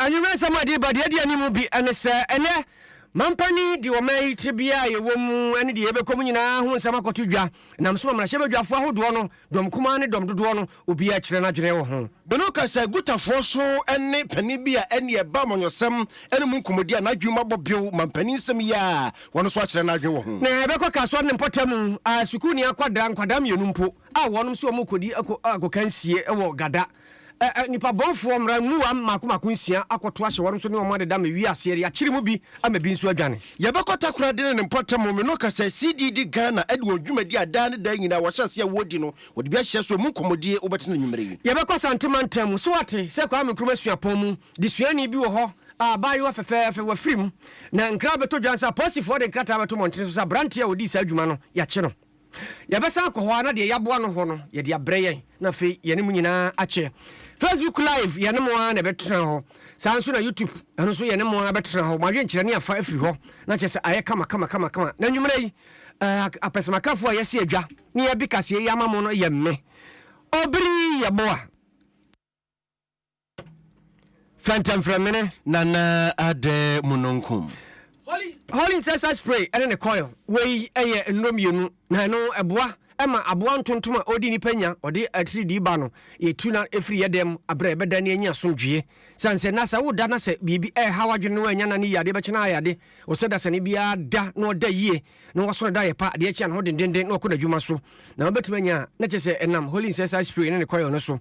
anwummerɛ nsɛm a de ba deɛ ɛdi anim bi ne sɛ ɛnɛ mampani de ɔman yi tebea a yɛwɔ mu ne deɛ yɛbɛkɔ mu nyinaa ho nsɛm akɔto dwa nam so ma mmarahyɛbadwafoɔ ahodoɔ no dɔm kumaa ne dɔm dodoɔ no obiara kyerɛ no adwene wɔ ho. Bono ka sɛ Gutafoɔ so ne panin bi a ɛne ɛba amanyɔsɛm ne mu nkɔmmɔdi a n'adwene mu abɔ bew mampanin nsɛm yi a wɔn nso akyerɛ no adwene wɔ ho. Na ɛbɛkɔ ka asɔre no mpɔtam a sukuuni akwadaa nkwadaa mmienu mpo a wɔnom se wɔrekɔdi ako akɔka nsie wɔ Gada ɛ ɛ nnipa bɔnfoɔ mmra mmuam mmaako mmaako nsia akɔto ahyɛ wɔnom so ne wɔn adeda me wiaseɛ de akyere mu bi ama bi nso adwane. Yɛbɛkɔ Takoradi ne ne mpɔtam home no ka sɛ CDD Ghana de wɔn dwumadi a daa ne daa nyinaa wɔahyɛ aseɛ a wɔredi no wɔde bi ahyɛ so ɛmu nkɔmmɔdie wobɛtena anwummerɛ yi. Yɛbɛkɔ Asante mantam mu so ate sɛ Kwame Nkrumah suapɔn mu de suani bi wɔ hɔ a abaayewa fɛfɛɛfɛ wafiri mu na nkra bɛtɔ dwa nsa apolisifoɔ de nkrataa bɛto mmɔntene so sɛ aberanteɛ a ɔdii saa dwuma no yɛakye no. Yɛbɛsan akɔ hɔ ara na deɛ yɛaboa no hɔ no, yɛde abrɛ yɛn, na afei yɛne mo nyinaa akyɛ. Facebook Live, yɛne mo ara na ɛbɛtena hɔ. Saa ara nso na YouTube, ɛno nso yɛne mo ara bɛtena hɔ. Mo adwenkyerɛ ne afa afiri hɔ, na kyerɛ sɛ ayɛ kama kama kama kama. Na anwummerɛ yi, eh, apɛsɛmakafoɔ a yɛasi adwa ne yɛabi kaseɛ yi ama mo no yɛ me, Obiri Yeboah. fɛntɛmfrɛmene. nana adɛ mununkum. Holy insecticide spray ne ne coil wei yɛ nnuro mmienu na ɛno ɛboa ɛma aboa ntontom a ɔdi nipa nya ɔde atiridii ba no yɛtu na ɛfiri yɛ dɛm aberɛ ɛbɛda ne anya asomdwie sane sɛ na sɛ woda na sɛ biribi ɛha wadwene no anya na ne yie adeɛ bɛkyena ayɛ ade ɔsɛ dasane biara da na ɔda yie na wasɔre da ayɛpa deɛ ɛkyɛ anho dendenden na wakɔ n'adwuma so na wabɛtumi anya a na kyerɛ sɛ ɛnam holy incensed spray ne ne coil no so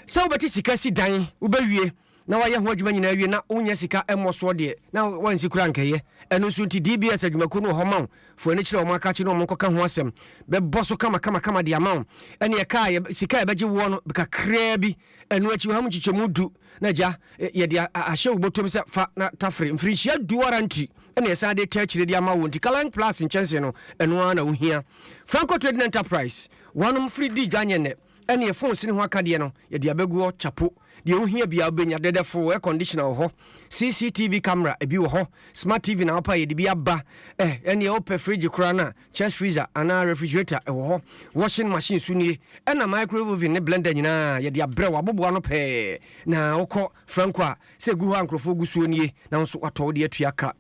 sɛ wobɛte sika si dan wobɛwie na wayɛ ho adwuma nyinaa wie na wonya sika mmɔ soɔ deɛ na wansi kora nkɛyɛ ɛno nso nti DBS adwumakuo no wɔ hɔ ma wo fo ani kyerɛ wɔn aka akye ne wɔn nkɔka ho asɛm bɛbɔ so kama kama kama de ama wo ɛne ɛka a sika a ɛbɛgye woɔ no kakraa bi ɛno akyi wɔ ha mu nkyekyɛmu du Na Agya, yɛde ahyɛ wo bɔtɔm sɛ fa na tafere. Mfirinhyia du ara nti na yɛsan de taa akyire de ama wo nti Colorline Plus nkyɛnsee no, ɛno ara na wo hia. Franco Trading Enterprise, wɔnom firi di dwa nyɛ nnɛ, ɛne ɛfon sini ho akadeɛ no, yɛde abɛgu hɔ kyapo. Deɛ wo hia biara wo bɛnya, dɛdɛfoo, air conditioner wɔ hɔ, CCTV camera, ɛbi wɔ hɔ, smart TV na wopɛ a yɛde bi aba, eh, ɛneɛ wopɛ fridge koraa no a, Chest freezer anaa refrigerator ɛwɔ hɔ, washing machine nso nie, ɛna microwave oven ne blender nyinaa yɛde abrɛ wo, aboboa ano pɛɛ, na wokɔ Franco a sɛ ɛgu hɔ a nkorɔfoɔ gu soɔ nie na wo nso woatɔ wode atua ka.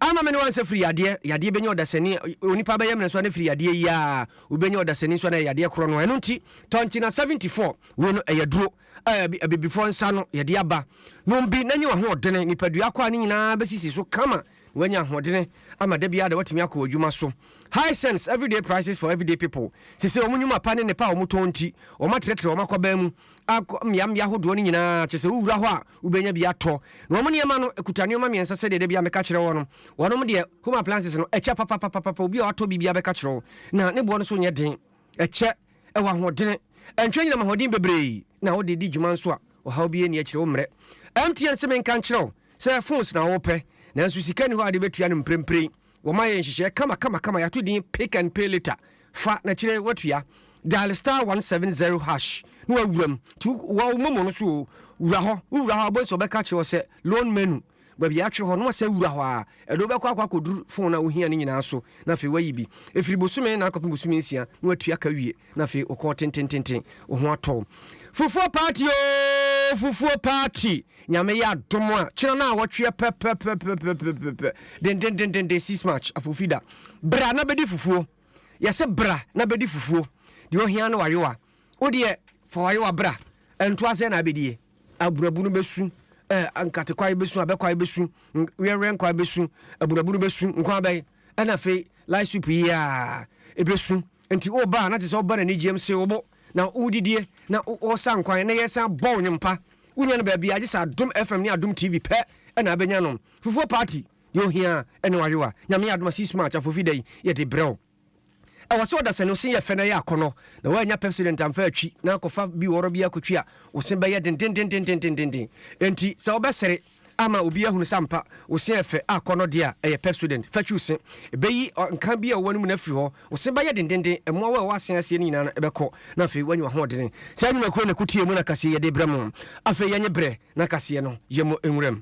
Ama me ne w'ansa firi yadeɛ, yadeɛ bɛnya ɔdasani, onipa bɛyɛ mmerɛ nso a na firi yadeɛ yi ara wobɛnya ɔdasani nso a na ɛyɛ yadeɛ korɔ no ara, ɛno nti tɔ nkyena 74, wei no ɛyɛ aduro a abibifoɔ nsa ano yɛde aba, nom bi na nya w'ahoɔdene, nipadua akwaa no nyinaa bɛsisi so kama. Wanya ahoɔdene ama da biara da watumi akɔ adwuma so. High cents everyday prices for everyday people. Sesei wɔn nnwuma pa ne nnepa a wɔtɔn nti, wɔatrɛtrɛ wɔn akwaban mu akɔ mmeammea ahodoɔ no nyinaa, kyerɛ sɛ wowura hɔ a wobɛnya bi atɔ. Na wɔn nneɛma no kuta nneɛma mmiɛnsa sɛdeɛ da biara meka kyerɛ wɔn no. Wɔnom deɛ home appliances no ɛkyɛ papapapapa, obi a watɔ bi biara bɛka kyerɛ wo. Na ne boɔ no nso nyɛ den, ɛkyɛ, ɛwɔ ahoɔdene, ɛntwe anyinam ahoɔden bebree na wode di dwuma nso a ɔhaw biara nni akyire wo mmrɛ MTN sɛ menka nkyerɛ wo. Sɛ phones na wopɛ, nanso sika nni hɔ a wode bɛtua no mprempren, wɔma yɛ nhyehyɛɛ kamakamakama, yɛato din Pick and Pay Later. Fa, na akyire yi woatua. Dial star one seven zero hash na woawura mu. Tu wɔ wo momo no so oo, wura hɔ. Wowura hɔ a, wobɛhu sɛ wɔbɛka akyerɛ wo sɛ Loan Menu, baabi a yɛatwerɛ hɔ no, na woasan awura hɔ ara. Ɛde wo bɛkɔ akɔ akɔduru phone a wohia no nyinaa so, na afei woayi bi. Ɛfiri bosome nnan kɔpem bosome nsia na woatua ka awie. Na afei wo kɔn tentententen, wo ho atɔ wo. Fufuo party oo, fufuo party. Nyame yɛ adom a, kyena na awɔtweɛ pɛpɛpɛpɛpɛpɛpɛ. Dendendendenden six March, Afofida. Bra na bɛdi fufuo. Yɛse bra na bɛdi fufuo. Deɛ ohia ne w'ayowa. Wo deɛ fa w'ayowa bra. Ntoaseɛ na abɛdie. Abunabunu bɛsu, eh, nkatekwae bɛsu, abɛkwae bɛsu, n, weɛweɛ nkwae bɛsu, abunabunu bɛsu, nkwa abɛn. ɛna afei light sweep yi a ebesu nti wo ba a na te sɛ ɔba n'ani gyeam se wo bo na wodidie na wosan kwan na yɛsan bɔ wo nnwom pa wonya no baabi a gye sɛ adom fm ne adom tv pɛ ɛna abɛnya no fufuo party deɛ ohia ɛne wayewa nyame adom a six march afofi da yi yɛde brɛ wo Ɛwɔ sɛ ɔdasani wo se yɛ fɛ na ɛyɛ akɔnɔ na woannya Pepsodent amfa atwi na akɔfa bi wɔrɔ bi akɔtwi a wo se bɛyɛ dendendendendendenden. Enti sɛ wobɛsere ama obi ahunu sɛ ampa wo se yɛ fɛ a akɔnɔ deɛ a ɛyɛ Pepsodent fa twi wo se. Ɛbɛyi nka bi a ɛwɔ w'anomu no afiri hɔ, wo se bɛyɛ dendenden, mmoawa a ɛwɔ asen aseɛ no nyinaa no ɛbɛkɔ na afei woanya w'ahoɔdene. Saa nnwumakuo no na ɛko tie mu na kaseɛ yɛde brɛ mo. Afei yɛnye berɛ na kaseɛ no yɛmmɔ nwura mu.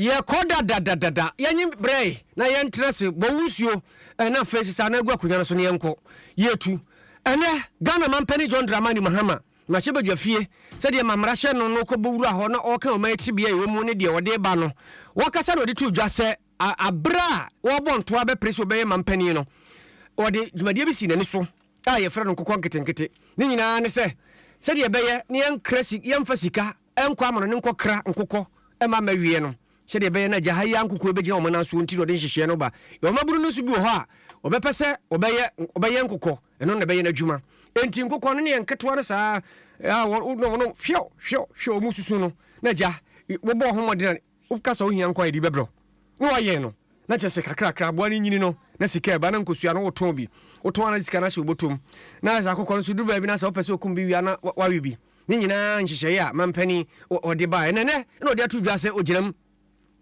yɛkɔ dadadadada yɛnye brɛe na yɛntena se bɔ wo nsuo na afei sesa na agu akonnwa no so na yɛnkɔ yɛtu ɛnɛ Ghana mampani John Dramani Mahama mahyɛ badwa fie sɛdeɛ ma mmara hyɛ no no kɔbɔ wura hɔ na ɔka ɔma ɛtibea ɛwɔ mu ne deɛ ɔde ba no wakasa na ɔde to dwa sɛ aberɛ a wɔbɔ ntoa bɛpere sɛ ɔbɛyɛ mampani no ɔde dwumadie bi si n'ani so a yɛfrɛ no nkokɔ nketenkete. Ne nyinaa ne sɛ, sɛdeɛ ɛbɛyɛ na yɛnkra si, yɛmfa sika nkɔ amano ne nkɔkra nkokɔ mma mmɛweɛ no, sɛdeɛ ɛbɛyɛ na agya ha yi ara nkukuo bɛgyina wɔn nan soɔ nti na ɔde nhyehyɛeɛ no ba. Yɛwɔ mmabunu no nso bi wɔ hɔ a, wɔbɛpɛ sɛ wɔbɛyɛ, wɔbɛyɛn nkokɔ, ɛno na ɛbɛyɛ n'adwuma. Enti nkokɔ no ne yɛn nketewa no saa ara a, wɔ, wɔ, wɔnom, hwɛw, hwɛw, hwɛw, wɔn susu no, na agya, wɔbɔɔ ho mmɔden a. Wo kasa ohia nko a yɛde bɛbrɛ wo na wayɛn no na kyerɛ sɛ kakrakra aboa no nyini no na sika ɛba na nkosua no wotɔn bi wotɔn a na de sika no ahyɛ wo bɔtɔ mu na ayɛ saa kɔkɔ no so duru baabi no a sɛ wopɛ sɛ okum bi wie a na wawe bi ne nyinaa nhyehyɛeɛ a mampanin ɔde baeɛ ɛnɛ ɛnɛ na ɔde ato dwa sɛ ogyina mu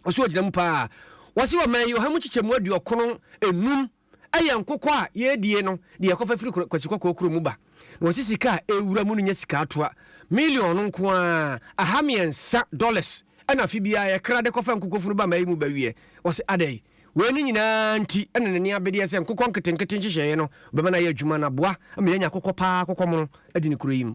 ɔso ogyina mu paa wɔse ɔman yi ɔha mu kyekyɛmu aduɔkono enum Ɛyɛ nkokɔ a yɛredie no deɛ yɛkɔfa firi Kwasi Kɔkɔɔ kurom mu ba. Na wɔsi sika a ɛrewura mu no nyɛ sika atoa. Million no nko ara, aha mmiɛnsa dollars, ɛna afe biara yɛkra de kɔfa nkokɔ funu ba ma ayi mu ba wie. Wɔse adɛn? Wei no nyinaa nti na n'ani abedeɛ sɛ nkokɔ nketenkete nhyehyɛeɛ no bɛma no ayɛ adwuma na aboa ama yɛanya akokɔ paa akokɔ mono adi ne kuro yi mu.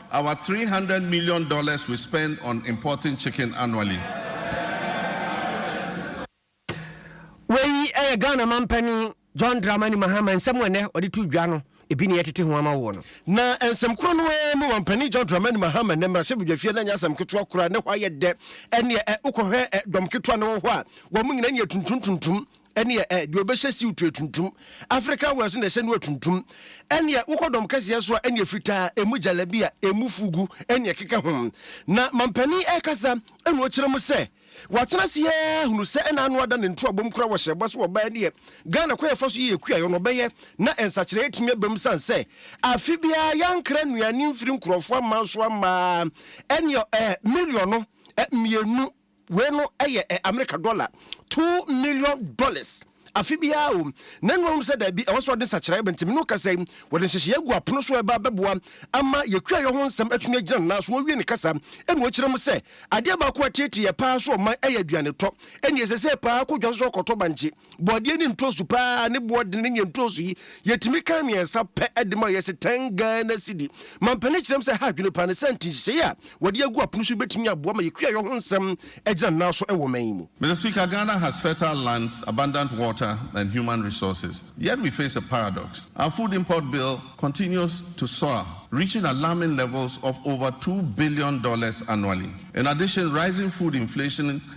Our three hundred million dollars we spend on importing chicken annually. Wei yɛ Ghana Mampanin John Dramani Mahama nsɛm a ɛnnɛ ɔde to dwa no, ebi na yɛatete ho ama wo no. Na nsɛm korɔ no ara mu, Mampanin John Dramani Mahama nnɛ mmarahyɛbadwafie no ɛnyɛ asɛm ketewa koraa, ne hɔ ayɛ dɛ, ɛnneɛ ɛ, wokɔhwɛ ɛ, dɔm ketewa no wɔ hɔ a, wɔn nyinaa ani yɛ tuntum tuntum. ɛneɛ ɛ deɛ ɔbɛhyɛ siw to atuntum African wear so na ɛhyɛ no atuntum ɛneɛ wokɔ dɔm kɛseɛ so a ɛneɛ fitaa ɛmu jalabia ɛmu fugu ɛneɛ ɛkeka ho na mampanin ɛkasa ɛna ɔkyerɛ mu sɛ watena ase yɛɛ hunu sɛ ɛna ano ada ne ntoabom kora wɔ hyɛbɔ so ɔbaa ɛneɛ Ghana kwan ɛfa so yɛ kuayɔ no ɔbɛyɛ na nsakyerɛ ɛtumi aba mu sane sɛ afe biara yɛankra nnuane mfiri nkurɔfoɔ aman so amaa ɛneɛ ɛ miliɔno mmienu Wei no yɛ ɛ Amerika dɔla two million dollars afe biara o. Nanum ahu sɛ daabi, ɛwɔ sɛ wɔde nsakyeraɛ ba. Nti me ne wo kasa yi, wɔde nhyehyɛeɛ agu apono so a ɛba bɛboa ama yɛn kuayɔ ho nsɛm atumi agyina ne nan so. Ɔwie ne kasa no, ɔkyerɛ mu sɛ, Adeɛ baako a ɛteetee yɛn pa ara sɛ ɔman yɛ aduanetɔ. Ɛnneɛ, ɛsɛ sɛ yɛpa ara kɔ dwa so sɛ wɔkɔtɔ bankye. Bɔdeɛ ne ntoosu paa ne boɔ dene ne ntoosu yi yɛtumi kan mmiɛnsa pɛ de ma yɛse 10 Ghana cedi. Mampanin kyerɛ m sɛ ha adwene paa ne sɛ nti nhyehyɛeɛ a wɔde agu apono so yi bɛtumi aboa ma yɛ kuayɔ ho nsɛm agyina nan so wɔ ɔman yi mu. Mister Speaker, Ghana has fertile lands, abundant water and human resources, yet we face a paradox. Our food import bill continues to soar, reaching alarming levels of over two billion dollars annually. In addition, rising food inflation,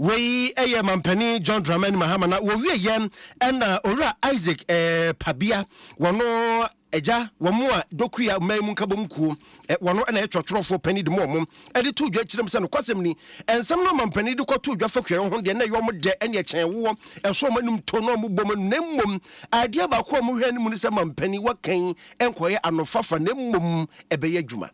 Wei yɛ Mampanin John Dramani Mahama na wɔwie yɛ ɛna Owura Isaac Pabia wɔno agya wɔn a Dokuya mmaa mu nkabom kuo wɔno ɛna yɛ twerɛtwerɛfoɔ panin de mu wɔn ɛde to dwa kyerɛ mu sɛ nokwasɛm ni nsɛm no Mampanin de kɔto dwa fa kuayɛ ho deɛ na ɛyɛ wɔn dɛ ɛne ɛkyɛn woɔ ɛso wɔn anum to na wɔn bɔ wɔn na mmom adeɛ baako a wɔhwɛ no mu no sɛ Mampanin wakan nkɔyɛ anofafa na mmom ɛbɛyɛ adwuma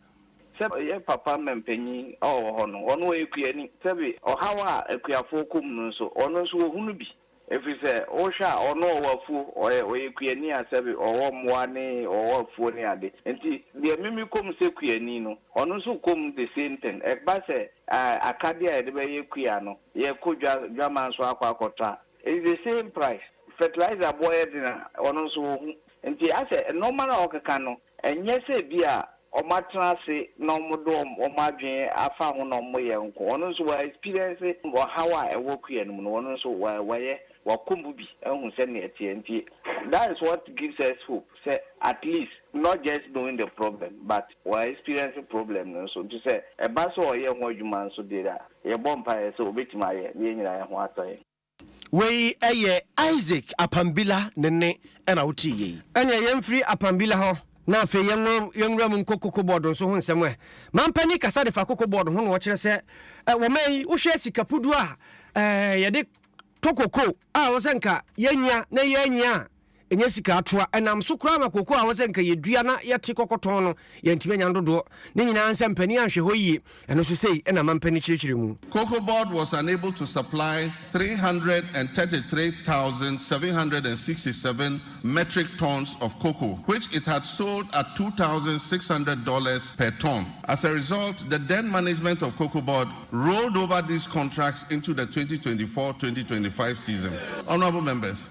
Sɛ yɛn papa mpanyin a ɔwɔ hɔ no, ɔno ɔyɛ kuani. Sɛbe ɔhaw a akuafoɔ kɔ mu no nso, ɔno nso ɔhunu bi. Ɛfiri sɛ, wohwɛ a, ɔno ɔwɔ afuo, ɔyɛ ɔyɛ kuani a sɛbe ɔwɔ mmoa ne ɔwɔ afuo ne ade. Nti, deɛ me mekɔ mu sɛ kuani no, ɔno nso kɔ mu the same thing. Ɛba sɛ akadeɛ a yɛde bɛyɛ kua no, yɛkɔ dwa dwaman so akɔ akɔtɔ a, it's the same price. Fertilizer boɔ yɛ den a, ɔno nso ɔhu. Nti asɛ nnoɔma no a ɔkeka no, Ɛnyɛ sɛ ebia wɔatena ase na wɔde wɔn adwene afa ho na wɔyɛ nko. Wɔn nso wɔ experience ɔhaw a ɛwɔ kua no mu no, wɔn nso wɔayɛ, wɔakɔ mu bi ahu sɛnea ɛteɛ. Nti that is what gives us hope sɛ at least not just knowing the problem but wɔ experience problem no nso. Nti sɛ ɛba sɛ ɔyɛ ho adwuma nso deɛ a, yɛbɔ mpaeɛ sɛ ɔbɛtumi ayɛ na yɛn nyinaa yɛn ho atɔ yɛn. Wei ɛyɛ Isaac Apambila ne nne ɛna wo tee yei. Ɛneɛ yɛn firi Apambila hɔ na afei yɛn nwura mu nkɔ Koko Board nso ho nsɛm ɛ. Mampanin kasa de fa Koko Board ho na ɔkyerɛ sɛ ɛ wɔ man yi wo hwɛ sika puduo a ɛ yɛde tɔ Koko a wɔ sɛ nka yɛnya na yɛnya a ɛnyɛ sika atoa. Ɛnam so koraa ma kooko a ɛwɔ sɛ nka yɛdua na yɛte kɔkɔ tɔn no, yɛantumi anya no dodoɔ. Ne nyinaa nsɛ mpanin anhwɛ hɔ yie. Ɛno nso sei na mampa no kyerɛkyerɛ mu. Cocoa Board was unable to supply three hundred and thirty three thousand seven hundred and sixty seven metric tons of cocoa which it had sold at two thousand six hundred dollars per ton. As a result, the then management of Cocoa Board rolled over these contracts into the twenty twenty four twenty twenty five season. Honourable Members.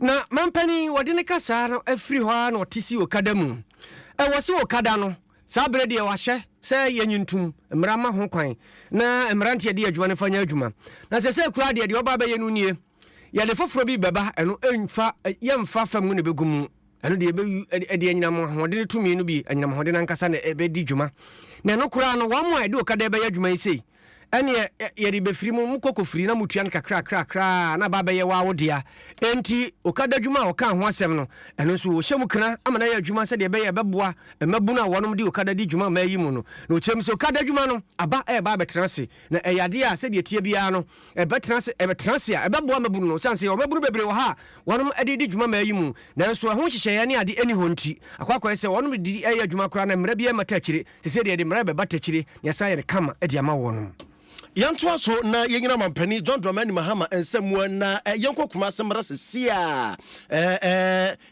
Na mampanin, wɔde ne kasaa no afiri hɔ ara na ɔte si okada mu. Ɛwɔ se okada no, saa berɛ deɛ wɔahyɛ sɛ yɛnyi ntom, mmara mma ho kwan, na mmeranteɛ de adwuma no mfa nyɛ adwuma. Na sɛsɛɛ koraa deɛ, deɛ ɔba abɛyɛ no nie, yɛde foforɔ bi bɛba, ɛno ɛmfa, yɛmfa fa mu na ɛbɛgu mu. Ɛno deɛ, ɛbɛyu, ɛde, ɛde anyinam ahoɔden no tumi no bi, anyinam ahoɔden no ankasa na ɛbɛdi dwuma. Na ɛno koraa no, wɔn a ɛde okada bɛyɛ adwuma yi sei, ɛneɛ ɛ, yɛde bɛfiri mo, mokɔ kɔfiri na motua no kakrakrakraa na aba abɛyɛ wo ara wo dea. Enti, okada adwuma a wɔkaa ho asɛm no, ɛno nso wɔhyɛ mu kena ama no ayɛ adwuma sɛdeɛ ɛbɛyɛ a ɛbɛboa mmabunu a wɔnom de okada di dwuma mmaa yi mu no. Na wɔkyerɛ mu sɛ, okada adwuma no, aba ɛreba abɛtena ase, na ɛyɛ adeɛ a sɛdeɛ ɛteɛ biara no, ɛbɛtena ase, ɛbɛtena ase a, ɛbɛboa mmabunu no, esiane sɛ ɔmabunu bebree wɔ ha a wɔnom de redi dwuma mmaa yi mu, nanso ɛho nhyehyɛeɛ ne ade nni hɔ nti, akɔ akɔyɛ sɛ wɔnom de reyɛ adwuma koraa na mmara biara mmata akyire, seesei deɛ yɛde mmara rebɛbata akyire na yɛasan ayɛ no kama de ama wɔnom. Yɛntoa so na yɛnyina Mampanin John Dramani Mahama nsam na yɛnkɔ Kumasi mmra seesei ara.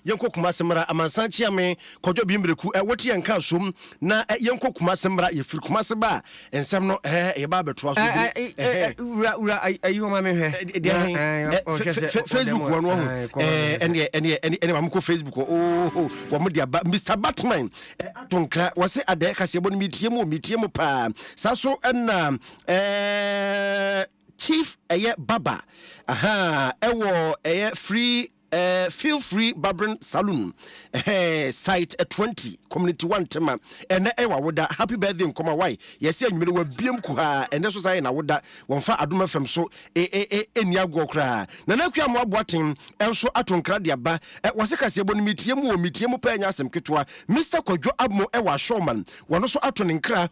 Yɛnkɔ Kumasi mmra amansan kyeame kwadwo bi mbereku ɛ wote yɛn nka asom na ɛ yɛnkɔ Kumasi mmra yɛfiri Kumasi ba a nsɛm no ɛ yɛba abɛtoa so bio ɛ hɛ. Wura wura ayi hɔ ma me hwɛ. Ɛ deɛ hɛn ɛ fɛ fɛ fɛ Facebook hɔ no wahu ɛ ɛneɛ ɛneɛ ɛneɛ maame kɔ Facebook hɔ ooho wɔn de aba Mister Batman ɛ ato nkra wɔse adɛɛ kaseɛbɔ no metie mu o metie mu paa saa so ɛna ɛ Chief ɛyɛ Baba ahaa ɛwɔ ɛyɛ Free Eh feel free barbering saloon eh site twenty community one tema ɛnɛ ɛyɛ wawoda happy birthday nkɔma wai yɛsɛ anwumere wabiem kuhaa ɛnɛ so saa yɛ nawoda wɔmfa adom fm so eh eh eh ɛnni agoɔ koraa nana akua mo abo aten ɛnso ato nkra de aba eh wɔse kaseɛbɔ no metie mu o metie mu paa ɛnyɛ asɛm ketewa Mister kwadwo abmo ɛwɔ ashowman wɔno so ato ne nkra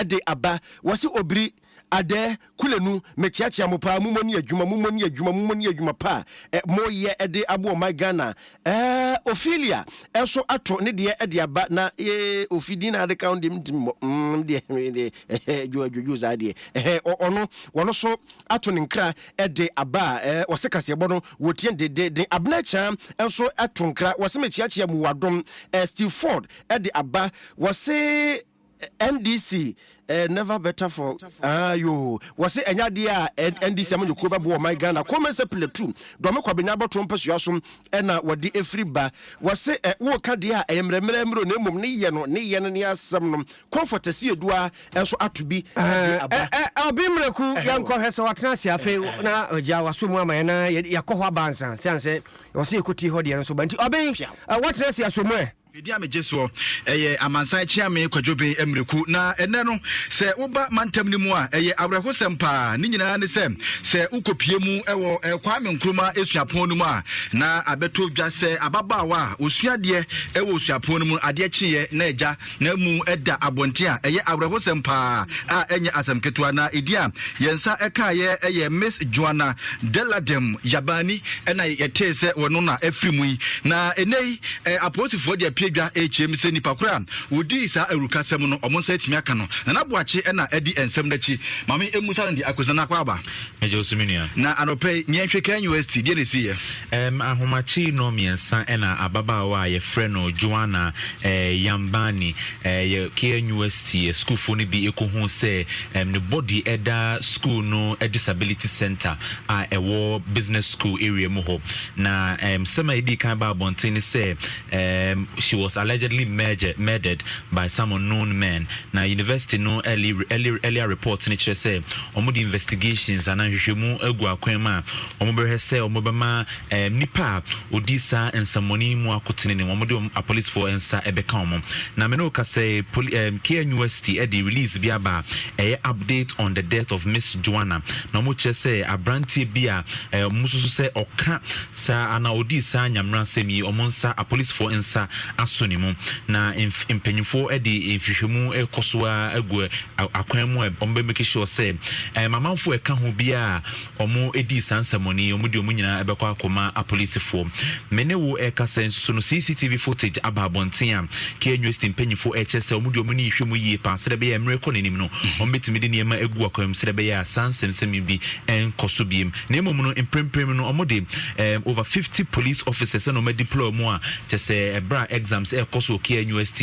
de aba. Wɔse obiri, adɛɛ, kulenu, mekyeakyea mo paa, momɔ ni adwuma, momɔ ni adwuma, momɔ ni adwuma pa a mo yɛ de aboa ɔman Ghana. Ɛɛh, Ophelia nso ato ne deɛ de aba na ee, Ofi din na ade ka ho deɛ mentumi mmɔ, mm, me deɛ, me deɛ, ɛhɛ, dwo, adwodwo saa deɛ, ɛhɛ, ɔ, ɔno, wɔno nso ato ne nkra de aba a, ɛɛh, wɔse kaseɛbɔ no, wɔtie dedeeden. Abena Akyea nso to nkra, wɔse mekyeakyea mu, wɔ adom, ɛɛh, Steve Ford de aba, wɔse. NDC eh, never better for ah yo. Wɔse ɛnyɛ adeɛ a eh, NDC amanyɔkuo bɛboa ɔman Ghana. Kɔn mɛnsɛ pillar two. Dɔme Kwabenya abɔtoɔ mpasua so ɛna wɔde ɛfiri ba. Wɔse eh, woka deɛ a ɛyɛ mmerɛmmerɛ mmrɛ o na mmom ne yɛ no, ne yɛ no ne asɛm no. Comfort Asieduaa nso ato bi de aba. Eh, eh, Obi Miraku, yɛnkɔ hwɛ sɛ watena ase afei na ɔgya waso mu ama yɛn na yɛkɔ hɔ aba ansa. Sɛ ansɛ wɔse yɛkɔtie hɔ deɛ no nso ba nti Obi, eh, watena ase aso mu eh. Bedi a megye soɔ, ɛyɛ Amansan Kyeame Kwadwoben Mmreku. Na ɛnnɛ no, sɛ woba mantam no mu a, ɛyɛ awerɛhosɛm paa. Ne nyinaa ne sɛ, sɛ wokɔpue mu wɔ Kwame Nkrumah Suapɔn no mu a, na abɛtɔ dwa sɛ ababaawa a ɔsua adeɛ wɔ suapɔn no mu no, adeɛ kyeeɛ na agya n'amu da abɔnten a. Ɛyɛ awerɛhosɛm paa a ɛnyɛ asɛm ketewa. Na edin a yɛn nsa kaeɛ yɛ Miss Joanna Deladem Yabani na yɛtee sɛ wɔno na afiri mu yi. Na ɛnnɛ yi, Ɛ, apolisifoɔ de apue dwa rekyerɛm sɛ nnipa korɔ a wɔdii saa awurukasɛm no, wɔn nsa atumi aka no. Nana Boakye na adi nsɛm no akyi. Ma me mmisa no deɛ, Akosua no akɔ aba? Megye wo so me nua. Na anɔpa yi, yɛnhwɛ KNUST, deɛ na ɛsiiɛ? Ɛm, ahomakye nnɔn mmiɛnsa na ababaawa a yɛfrɛ no Joanna ɛ, Yambani ɛ, yɛ KNUST ɛ, sukuufoɔ no bi kɔhuu sɛ ɛm, ne body da sukuu no disability centre a ɛwɔ Business School area mu hɔ. Na nsɛm a edii kan baa abɔnten ne sɛ she was allegedly murdered murdered by some unknown men. Na university no early early earlier report no kyerɛ sɛ wɔde investigations anaa nhwehwɛmu agu akwan mu a wɔbɛhwɛ sɛ wɔbɛma nipa a ɔdii saa nsɛmmɔne yi mu akotene ne wɔde wɔn apolicefoɔ nsa bɛka wɔn. Na me ne wo kasa yi, poli um, KNUST de release bi aba a ɛyɛ update on the death of Miss Joanna. Na wɔkyerɛ sɛ aberanteɛ bi a Ɛɛ mususu sɛ ɔka saa anaa ɔdii saa nyamerasɛm yi, wɔn nsa, apolisifoɔ nsa aso ne mu, na mf mpanyinfoɔ de nhwehwɛmu rekɔ so ara agu ɛ a akwan mu a wɔbɛ make sure sɛ ɛɛ mamanfoɔ ɛka ho biara a wɔn dii saa nsɛmɔne yi, wɔn de wɔn nyinaa ɛbɛkɔ akɔma apolisifoɔ. Me ne wo ɛrekasa yi nso no CCTV footage aba abɔnten a KNUST mpanyinfoɔ ɛrekyerɛ sɛ wɔn de wɔn ani rehwɛ mu yie paa sɛdeɛ ɛbɛyɛ a mmerɛ rekɔ n'anim no wɔn bɛtumi de nneɛma agu akwan mu sɛdeɛ ɛbɛyɛ a saa nsɛmsɛm yi bi ɛnkɔ so biem na mmom no mprempren no wɔn de um, over fifty police officers na wɔn adeploy mu a kyɛ sɛ ɛbrɛ a exams ɛrekɔ so okia nust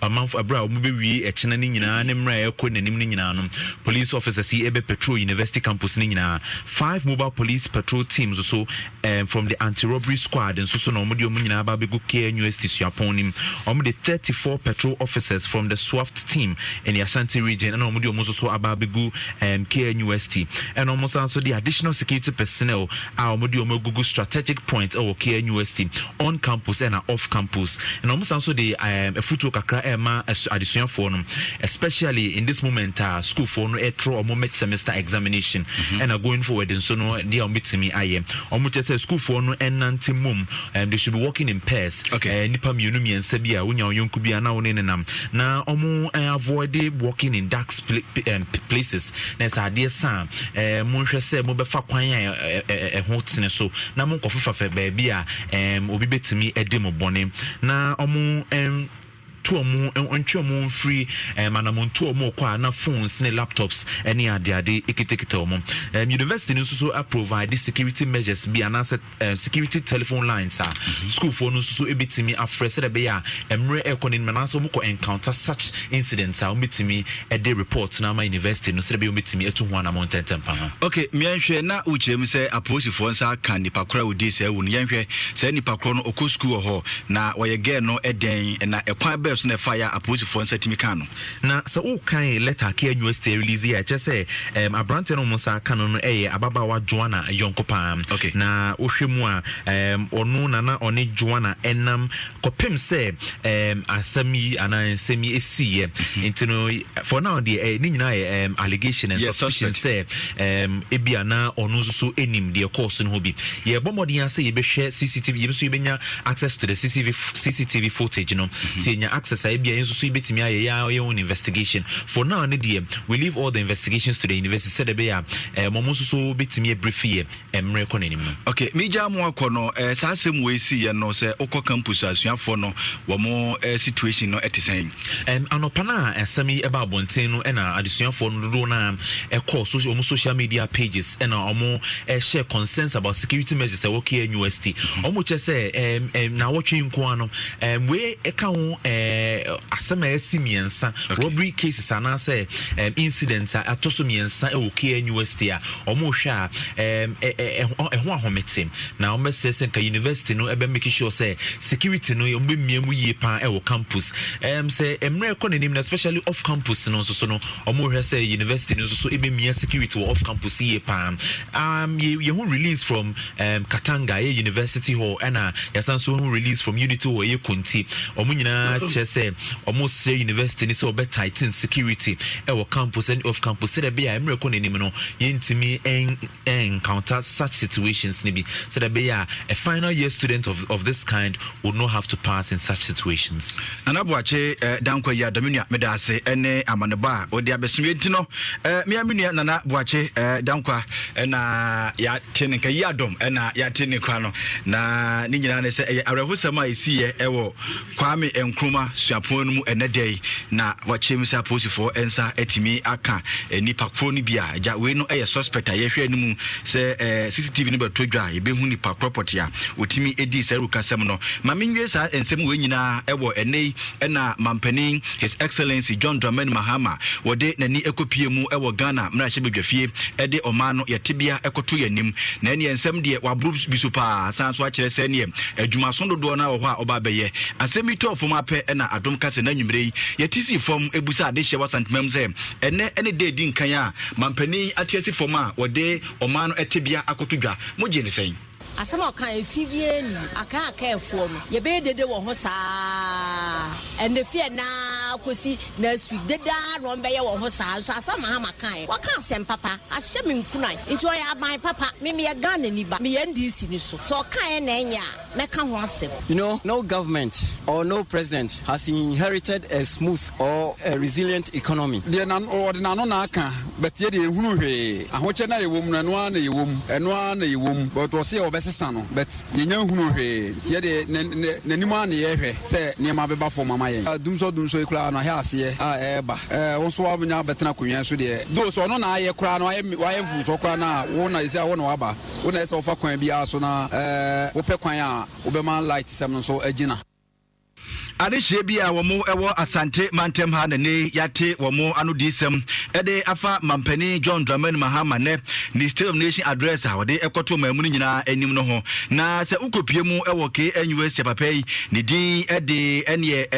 ɔmanfo ɛbrɛ a wɔn bɛwie ɛkyena no nyinaa ne mmerɛ a ɛrekɔ n'anim no nyinaa no police officers yi ɛbɛ patrol university campus no nyinaa five mobile police patrol teams so Erm from the anti robbery squad nso so na wɔn de wɔn nyinaa aba abɛgu KNUST suapɔn no mu. Wɔn de thirty four patrol officers from the SWAFT team in the Ashanti region ɛna wɔn de wɔn nso so aba abɛgu erm KNUST. Ɛna wɔn san nso de additional security personnel a wɔn de wɔn agugu strategic points ɛwɔ KNUST. on campus ɛna off campus ɛna wɔn san nso de ɛɛm afutuo kakra ɛɛma ɛso adesuafoɔ no especially in this moment a sukuufoɔ no ɛtoro wɔn mid semester examination ɛna mm-hmm. going forward nso no deɛ wɔn betumi ayɛ wɔn kyɛ sɛ sukuufoɔ no ɛnante mom ɛɛm they should be working in pairs ɛɛ nipa mmienu mmiɛnsa bi a wonya wɔn yɔnko bi a na wɔn ne nenam na wɔn ɛɛ avoid working in dark ɛɛm places na ɛsɛ adeɛ san ɛɛ mo nhwɛ sɛ mo bɛfa kwan a ɛɛ ɛho tene so na monkɔfefafɛ baabi a ɛɛm obi bɛtumi adi mo bɔne, na ɔmo ɛn to ɔmo ntwe ɔmo mfiri ɛm eh, anamontuo ɔmo kɔ a na phones ne laptops ne adeade ekitakita ɔmo ɛm university no nso so aprovide security measures bi anaasɛ ɛm security telephone lines a mm-hmm. schoolfoɔ no nso so ebitumi afrɛ sɛdeɛ ɛbɛyɛ a mmerɛ ɛkɔ n'anim anaasɛ ɔmo kɔ encounter such incidents a wɔbɛtumi de report no ama university no sɛdeɛ ɛbɛyɛ wɔbɛtumi atu ho anamɔ ntɛntɛm pa ara. Ok, yɛnhwɛ, na wokyerɛ mu sɛ apolisifoɔ nsa aka nipa korɔ a ɔdii saa awu no, yɛnhwɛ, saa nipa korɔ no ɔkɔ sukuu wɔ hɔ, na wɔyɛ girl no dɛn, na ɛkwan bɛn so na ɛfaeɛ a apolisifoɔ nsa tumi kaa no? Na sɛ wokan letter a Kea University arelease yi a, ɛkyerɛ sɛ ɛɛm aberanteɛ no a wɔn nsa aka no no yɛ ababaawa Joanna yɔnko pa ara, na wohwɛ mu a ɛɛm ɔno na na ɔne Joanna nam kɔpem sɛ um, asɛm yi anaa nsɛm yi ɛsiiɛ mhm. nti no for now deɛ eh, ne nyinaa yɛ um, allegation and yes, suspicion sɛ um, ebi anaa ɔno nso so ɛnim deɛ kɔɔ so no ho bi yɛbɔ mmɔden a sɛ yɛbɛhwɛ cctv yɛbi so yɛbɛnya access to the cctv, CCTV footage no mhm. sɛ yɛnya access a ebi a yɛn nso so yɛbɛtumi ayɛ yɛ yɛ own investigation for now ne deɛ we leave all the investigations to the university sɛ dɛ bɛyɛ a um, ɔmo nso so bɛtumi abiri fiyɛ mmere kɔ n'anim no. Ok, me gyaa mo akɔ no, eh, saa asɛm wei si yɛ no, sɛ wokɔ campus a, asuafoɔ no, wɔn eh, situation no ɛte sɛn? Ɛm, anɔpa no a asɛm yi ɛba abɔnten no, ɛna adesuafoɔ no dodoɔ no ara ɛkɔɔ so, wɔn social media pages, ɛna wɔn ɛhyɛ concerns about security measures ɛwɔ KNUST. Wɔn mm. kyɛ sɛ ɛm, ɛm, na awɔtwe nko ara no, ɛm, wei ɛka ho ɛɛ, asɛm a ɛsi mmiɛnsa, okay. robbery cases anaasɛ ɛm, incident a ɛtɔ so mmiɛnsa ɛwɔ KNUST a wɔhwɛ a ɛɛm ɛ ɛ ɛho ɛho ahomete na wɔbɛsrɛ sɛ nka university no ɛbɛ make sure sɛ security no wɔn bɛ mmea mu yie paa ɛwɔ campus ɛɛm sɛ mmerɛ ɛkɔ n'anim na especially off campus no nso so no wɔhwɛ sɛ university no nso so ɛbɛ mmea security wɔ off campus yie paa um, yɛ yɛ ho release from um, Katanga ɛyɛ university hɔ ɛna yɛsan so ho release from unity hɔ ɛyɛ Konti wɔn nyinaa kyerɛ sɛ Wɔsrɛ University no sɛ wɔbɛ tighten security wɔ campus ɛne off campus sɛdeɛ ɛbɛyɛ a mmerɛ kɔ n'anim no yɛntumi encounter such situations no bi sɛdeɛ ɛbɛyɛ a a final year student of, of this kind would not have to pass in such situations. Nana Boakye eh, Dankwa yi adame nua meda ase ɛne amanebɔ a wɔde abɛsom yɛn ti no eh, mea me nua Nana Boakye eh, Dankwa ɛna yɛate ne nka yi adɔm ɛna yɛate ne kwa no na ne nyinaa ne sɛ ɛyɛ awerɛhosɛm a ɛsiiɛ ɛwɔ Kwame Nkrumah Suapɔn no mu ɛnnɛ da yi na wɔakyerɛ mu sɛ apolisifoɔ nsa atumi aka nnipa korɔ no bi a agya wei no yɛ suspect a yɛhwɛ anim sɛ CCTV no bɛtɔ dwa a yɛbɛhu nnipa korɔ pɔtee a ɔtumi dii saa awurukasɛm no. Ma menwie saa nsɛm wei nyinaa wɔ ɛnnɛ yi na Mampanin His Excellency John Dramani Mahama wɔde n'ani kɔpie mu wɔ Ghana mmarahyɛbadwafie de ɔman no yɛ tebea kɔto yɛn anim. Na ɛneɛ nsɛm deɛ waboro bi so pa ara sane nso akyerɛ sɛ ɛneɛ adwumaso dodoɔ no ara wɔ hɔ a ɔba abɛyɛ. Asɛm yi tɔɔ fam ara pɛ na Adom ka sɛ n'anwummerɛ yi yɛte sii fam busa adehyeɛ wɔ Asantemanmu sɛ ɛnnɛ ne da a ɛdi nkan a mampanin yi ate asi fam a wɔde ɔman no tebea akɔto dwa. Mogye no sɛn? Asɛm a ɔkaa efi wiee no, Akaa Akaafoɔ no, yɛbɛyɛ dede wɔ ho saa ara, ɛnna efi ɛnnɛ ara kɔsi next week, dede ara na wɔbɛyɛ wɔ ho saa ara nso. Asɛm a Mahama kaeɛ, Waka asɛm papa ahyɛ me nkuran nti, ɔyɛ aban papa. Me meyɛ Ghanani ba, meyɛ NDC no so, sɛ ɔkaeɛ na ɛnyɛ a, mɛka ho asɛm. You know, no government or no president has inherited a smooth or a resilient economy. Deɛ na wɔde n'ano na aka but yɛ deɛ yɛnhunu hwee. Ahokyɛ no a yɛwɔ mu no ɛno ara na yɛwɔ mu, ɛno ara na yɛwɔ mu but wɔse yɛ wɔbɛsesa no but yɛnnya nhunuu hwee nti yɛ deɛ na na n'anim ara na yɛrehwɛ sɛ nneɛma bɛba fam ama yɛn. Dumsor Dumsor yi koraa no ahwɛ aseɛ a ɛreba eh, wo nso woanya abɛtena akonnwa yi so deɛ though sɛ ɔno na ayɛ koraa no wayɛ wayɛ mfomsoɔ koraa no a wo na ɛsɛ a wo na waba wo na ɛsɛ sɛ wofa kwan biara so na eh, wopɛ kwan a wobɛma light sɛm no nso agyina. Adehyeɛ bi a wɔn wɔ Asante mantam ha na nnɛ yi yɛate wɔn anodiyisɛm de afa Mampanin John Dramani Mahama nnɛ ne State of Nation Address a ɔde kɔtoo ɔman mu no nyinaa anim no ho. Na sɛ wokɔpue mu wɔ KNUST a papa yi ne din de ɛneɛ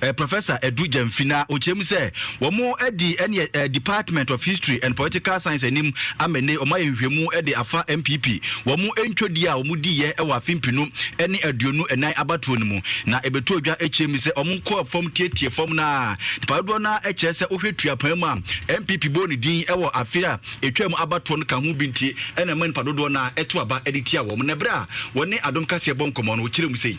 eh, Professor Adu Gyamfi na ɔkyerɛ mu sɛ wɔn adi ɛneɛ eh, Department of History and Political Science anim ama nnɛ yi wɔn ayɛ nhwehwɛmu de afa NPP Wɔn ntwodie a wɔn diiɛ wɔ afe mpenu ne aduonu nnan abatoɔ no mu na ɛbɛtoo dwa kyerɛ mu sɛ wɔn kɔɔ fam tietie fam no ara. Nnipa dodoɔ no ara kyerɛ sɛ wohwɛ tuapɛn mu a NPP bɔɔ ne din wɔ afe a ɛtwaa mu abatoɔ no ka ho bi nti na ɛma nnipa dodoɔ no ara to aba de tia wɔn. Na berɛ a wɔne adom kaseɛ bɔ nkɔmmɔ no, wɔkyerɛ mu sei.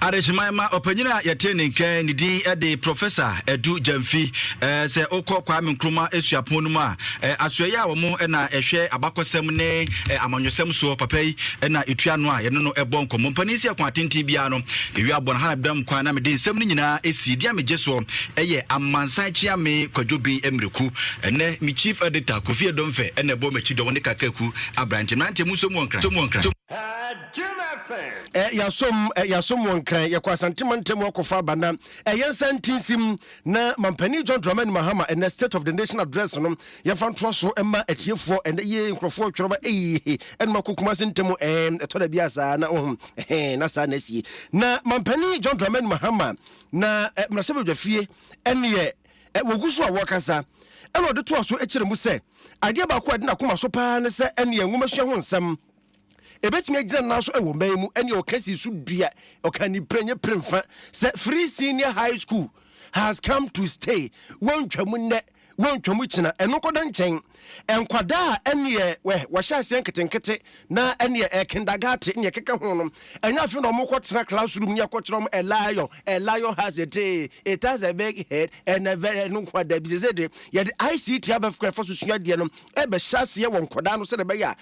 Adehyeman ma ɔpanyin a yɛtee ne nkae ne din de Professor Adu Gyamfi. Sɛ wokɔ Kwame Nkrumah suapɔn no mu a, asoɛeɛ a wɔn na ɛhwɛ abakɔsɛm ne amanyɔsɛm soɔ, papa yi na ɛtua ano a yɛne no bɔ nkɔmmɔ. Mpanin nsi akwan atenten biara no, yɛwie abɔ no ha na mebam kwan na mede nsɛm no nyinaa sie. Deɛ megye soɔ yɛ amansan kyeame Kwadwo Bin Mmreku. Ɛnnɛ me Chief Editor Kofi Edomfe na ɛbɔ m'akyi dɔm ne Kakaku aberante. Mmeranteɛ monso mu wɔ Nkran. Eh, yasom eh, yasom wɔn kran yɛkɔ asante mantam akɔfa aba na eh, yɛn nsa ntinsim na mampanin john dramani mahama ɛnɛ state of the nation address no yɛmfa ntoa so ɛma atiefoɔ ɛnɛ yie nkurɔfoɔ twerɛ ba eyi ɛnum akɔ kuma se ntam eh, ɛtɔ da bi asaa na ohun eh, na saa na asie na mampanin john dramani mahama na eh, mmarahyɛ badwa fie ɛneɛ eh, wɔgu so a wɔkasa ɛna ɔde toa so kyerɛ mu sɛ adeɛ baako a ɛde n'akoma so paa ne sɛ ɛneɛ nwomasua ho nsɛm Ebetumi agyina nan so wɔ mma yi mu ne ɔka si so dua ɔka ni pere nye pere mfa sɛ free senior high school has come to stay wɔntwa mu nnɛ wɔntwa mu kyena ɛno nkɔda nkyɛn nkwadaa a ɛneɛ wɛ wɔhyɛ aseɛ nketenkete na ɛneɛ ɛ kindagate ne ɛkeka ho no ɛnyɛ afei na wɔkɔ tena classroom ne ɛkɔ kyerɛ wɔn a lion a lion has a tail it has a big head and a very ɛno nkwadaa bi sɛ sɛ de yɛde ICT abɛfra ɛfa so sua adeɛ no ɛbɛhyɛ aseɛ wɔ nkwadaa no sɛ de bɛyɛ a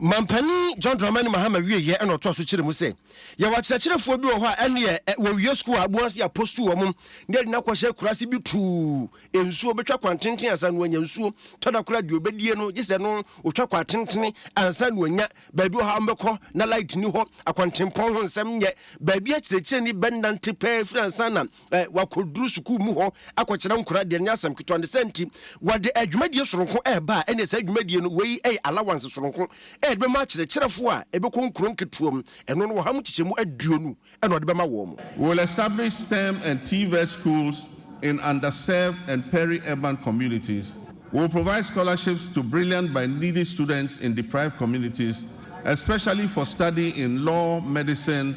Mampanin John Dramani Mahama wieɛ na ɔtoa so kyerɛ mu sɛ yɛwɔ akyerɛkyerɛfoɔ bi wɔ hɔ a ɛneɛ wɔwie sukuu a aboa se apostu wɔ mo na ɛde no akɔhyɛ kurase bi tuu nsuo bɛtwa kwan tenten ansa no anya nsuo tɔda kora deɛ ɔbɛdie no gye sɛ no ɔtwa kwan tentene ansa no anya baabi wɔ hɔ a wɔbɛkɔ na light ni hɔ akwantempɔn ho nsɛm nyɛ baabi akyerɛkyerɛni bɛnante pɛɛ firi ansa na eh, wakɔduru sukuu mu hɔ akɔkyerɛ nkora deɛ ɛnyɛ asɛm ketewa ne sɛ nti wɔde adwumadie soronko ɛreba a ɛne saa adwumadie no wei ɛyɛ allowance soronko ɛde bɛma akyerɛkyerɛfoɔ a ɛbɛkɔ nkuro nketewa mu ɛno no wɔha mu kyekyɛmu aduonu ɛna ɔde bɛma wɔn mo. Will establish STEM and TVET schools in underserved and peri-urban communities, will provide scholarships to brilliant by needy students in deprived communities, especially for study in law, medicine,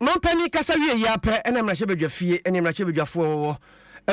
Manpanin kasa wie yi ara pɛ na mmarahyɛbadwafie ne mmarahyɛbadwafoɔ a wɔwɔ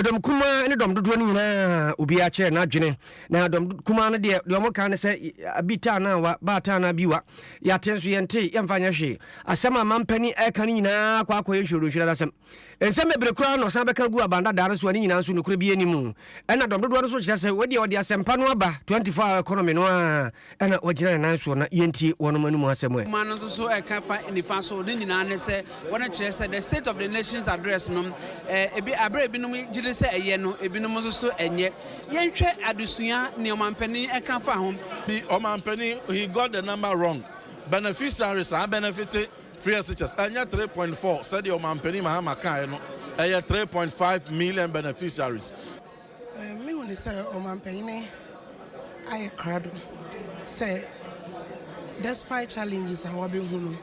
dɔm kumaa ne dɔm dodoɔ no nyinaa obiara kyerɛ n'adwene. Na dɔm kumaa no deɛ, deɛ wɔka ne sɛ bi taa na wa, baa taa na bi wa. Yɛate nso yɛntee, yɛmfa nyɛ hwee. Asɛm a manpanin reka no nyinaa kɔ akɔyɛ nhwiradonhwirada asɛm. Nsɛm bebree koraa na ɔsan bɛka gu aban dadaa no so a ne nyinaa nso nokorɛ biara nni mu. Ɛnna dɔm dodoɔ no nso kyerɛ sɛ wei deɛ ɔde asɛmpa no aba 24 hour economy no ara. Ɛna wɔgyina ne nan soɔ na yɛntie wɔnom anom asɛm ɛ. Nwoma no nso so ɛka fa nifa so, ne nyinaa ne sɛ wɔne kyerɛ sɛ the State of the Nations Address no ɛ, ebi, aberɛ a ebinom gye di sɛ ɛyɛ no, ebinom nso so ɛnyɛ. Yɛnhwɛ adesua nea ɔmampanin ɛka fa ho. Bi, Ɔmampanin, he got the number wrong. Beneficiary, saa bɛnɛfite, free SHS, ɛnyɛ three point four sɛdeɛ Ɔmampanin Mahama kaeɛ no, ɛyɛ three point five million beneficiaries. Mehu no sɛ ɔmanpanyin ayɛ krado sɛ despite challenges a wabehu no,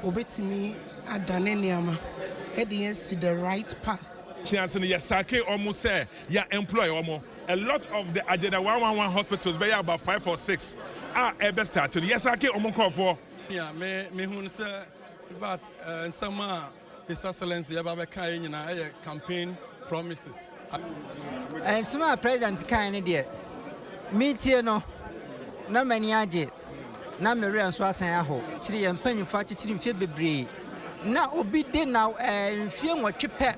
obetumi adane nneɛma de yɛn asi the right path. Kiase no yɛ sake wɔn sɛ yɛ employ wɔn. A lot of the agenda one one one hospitals bɛyɛ about five or six a ɛbɛ start no yɛ sake wɔn nkorɔfoɔ. Nea me mehu no sɛ in fact nsɛm a His Excellency ɛba bɛkaeɛ nyinaa ɛyɛ campaign promises. Nsɛm a President kae no deɛ, metie no na m'ani agye na me werɛ nso asan ahow. Akyiri yɛn mpanyimfo akyekyere mfeɛ bebree na obi de na eh, mfeɛ nwɔtwe pɛ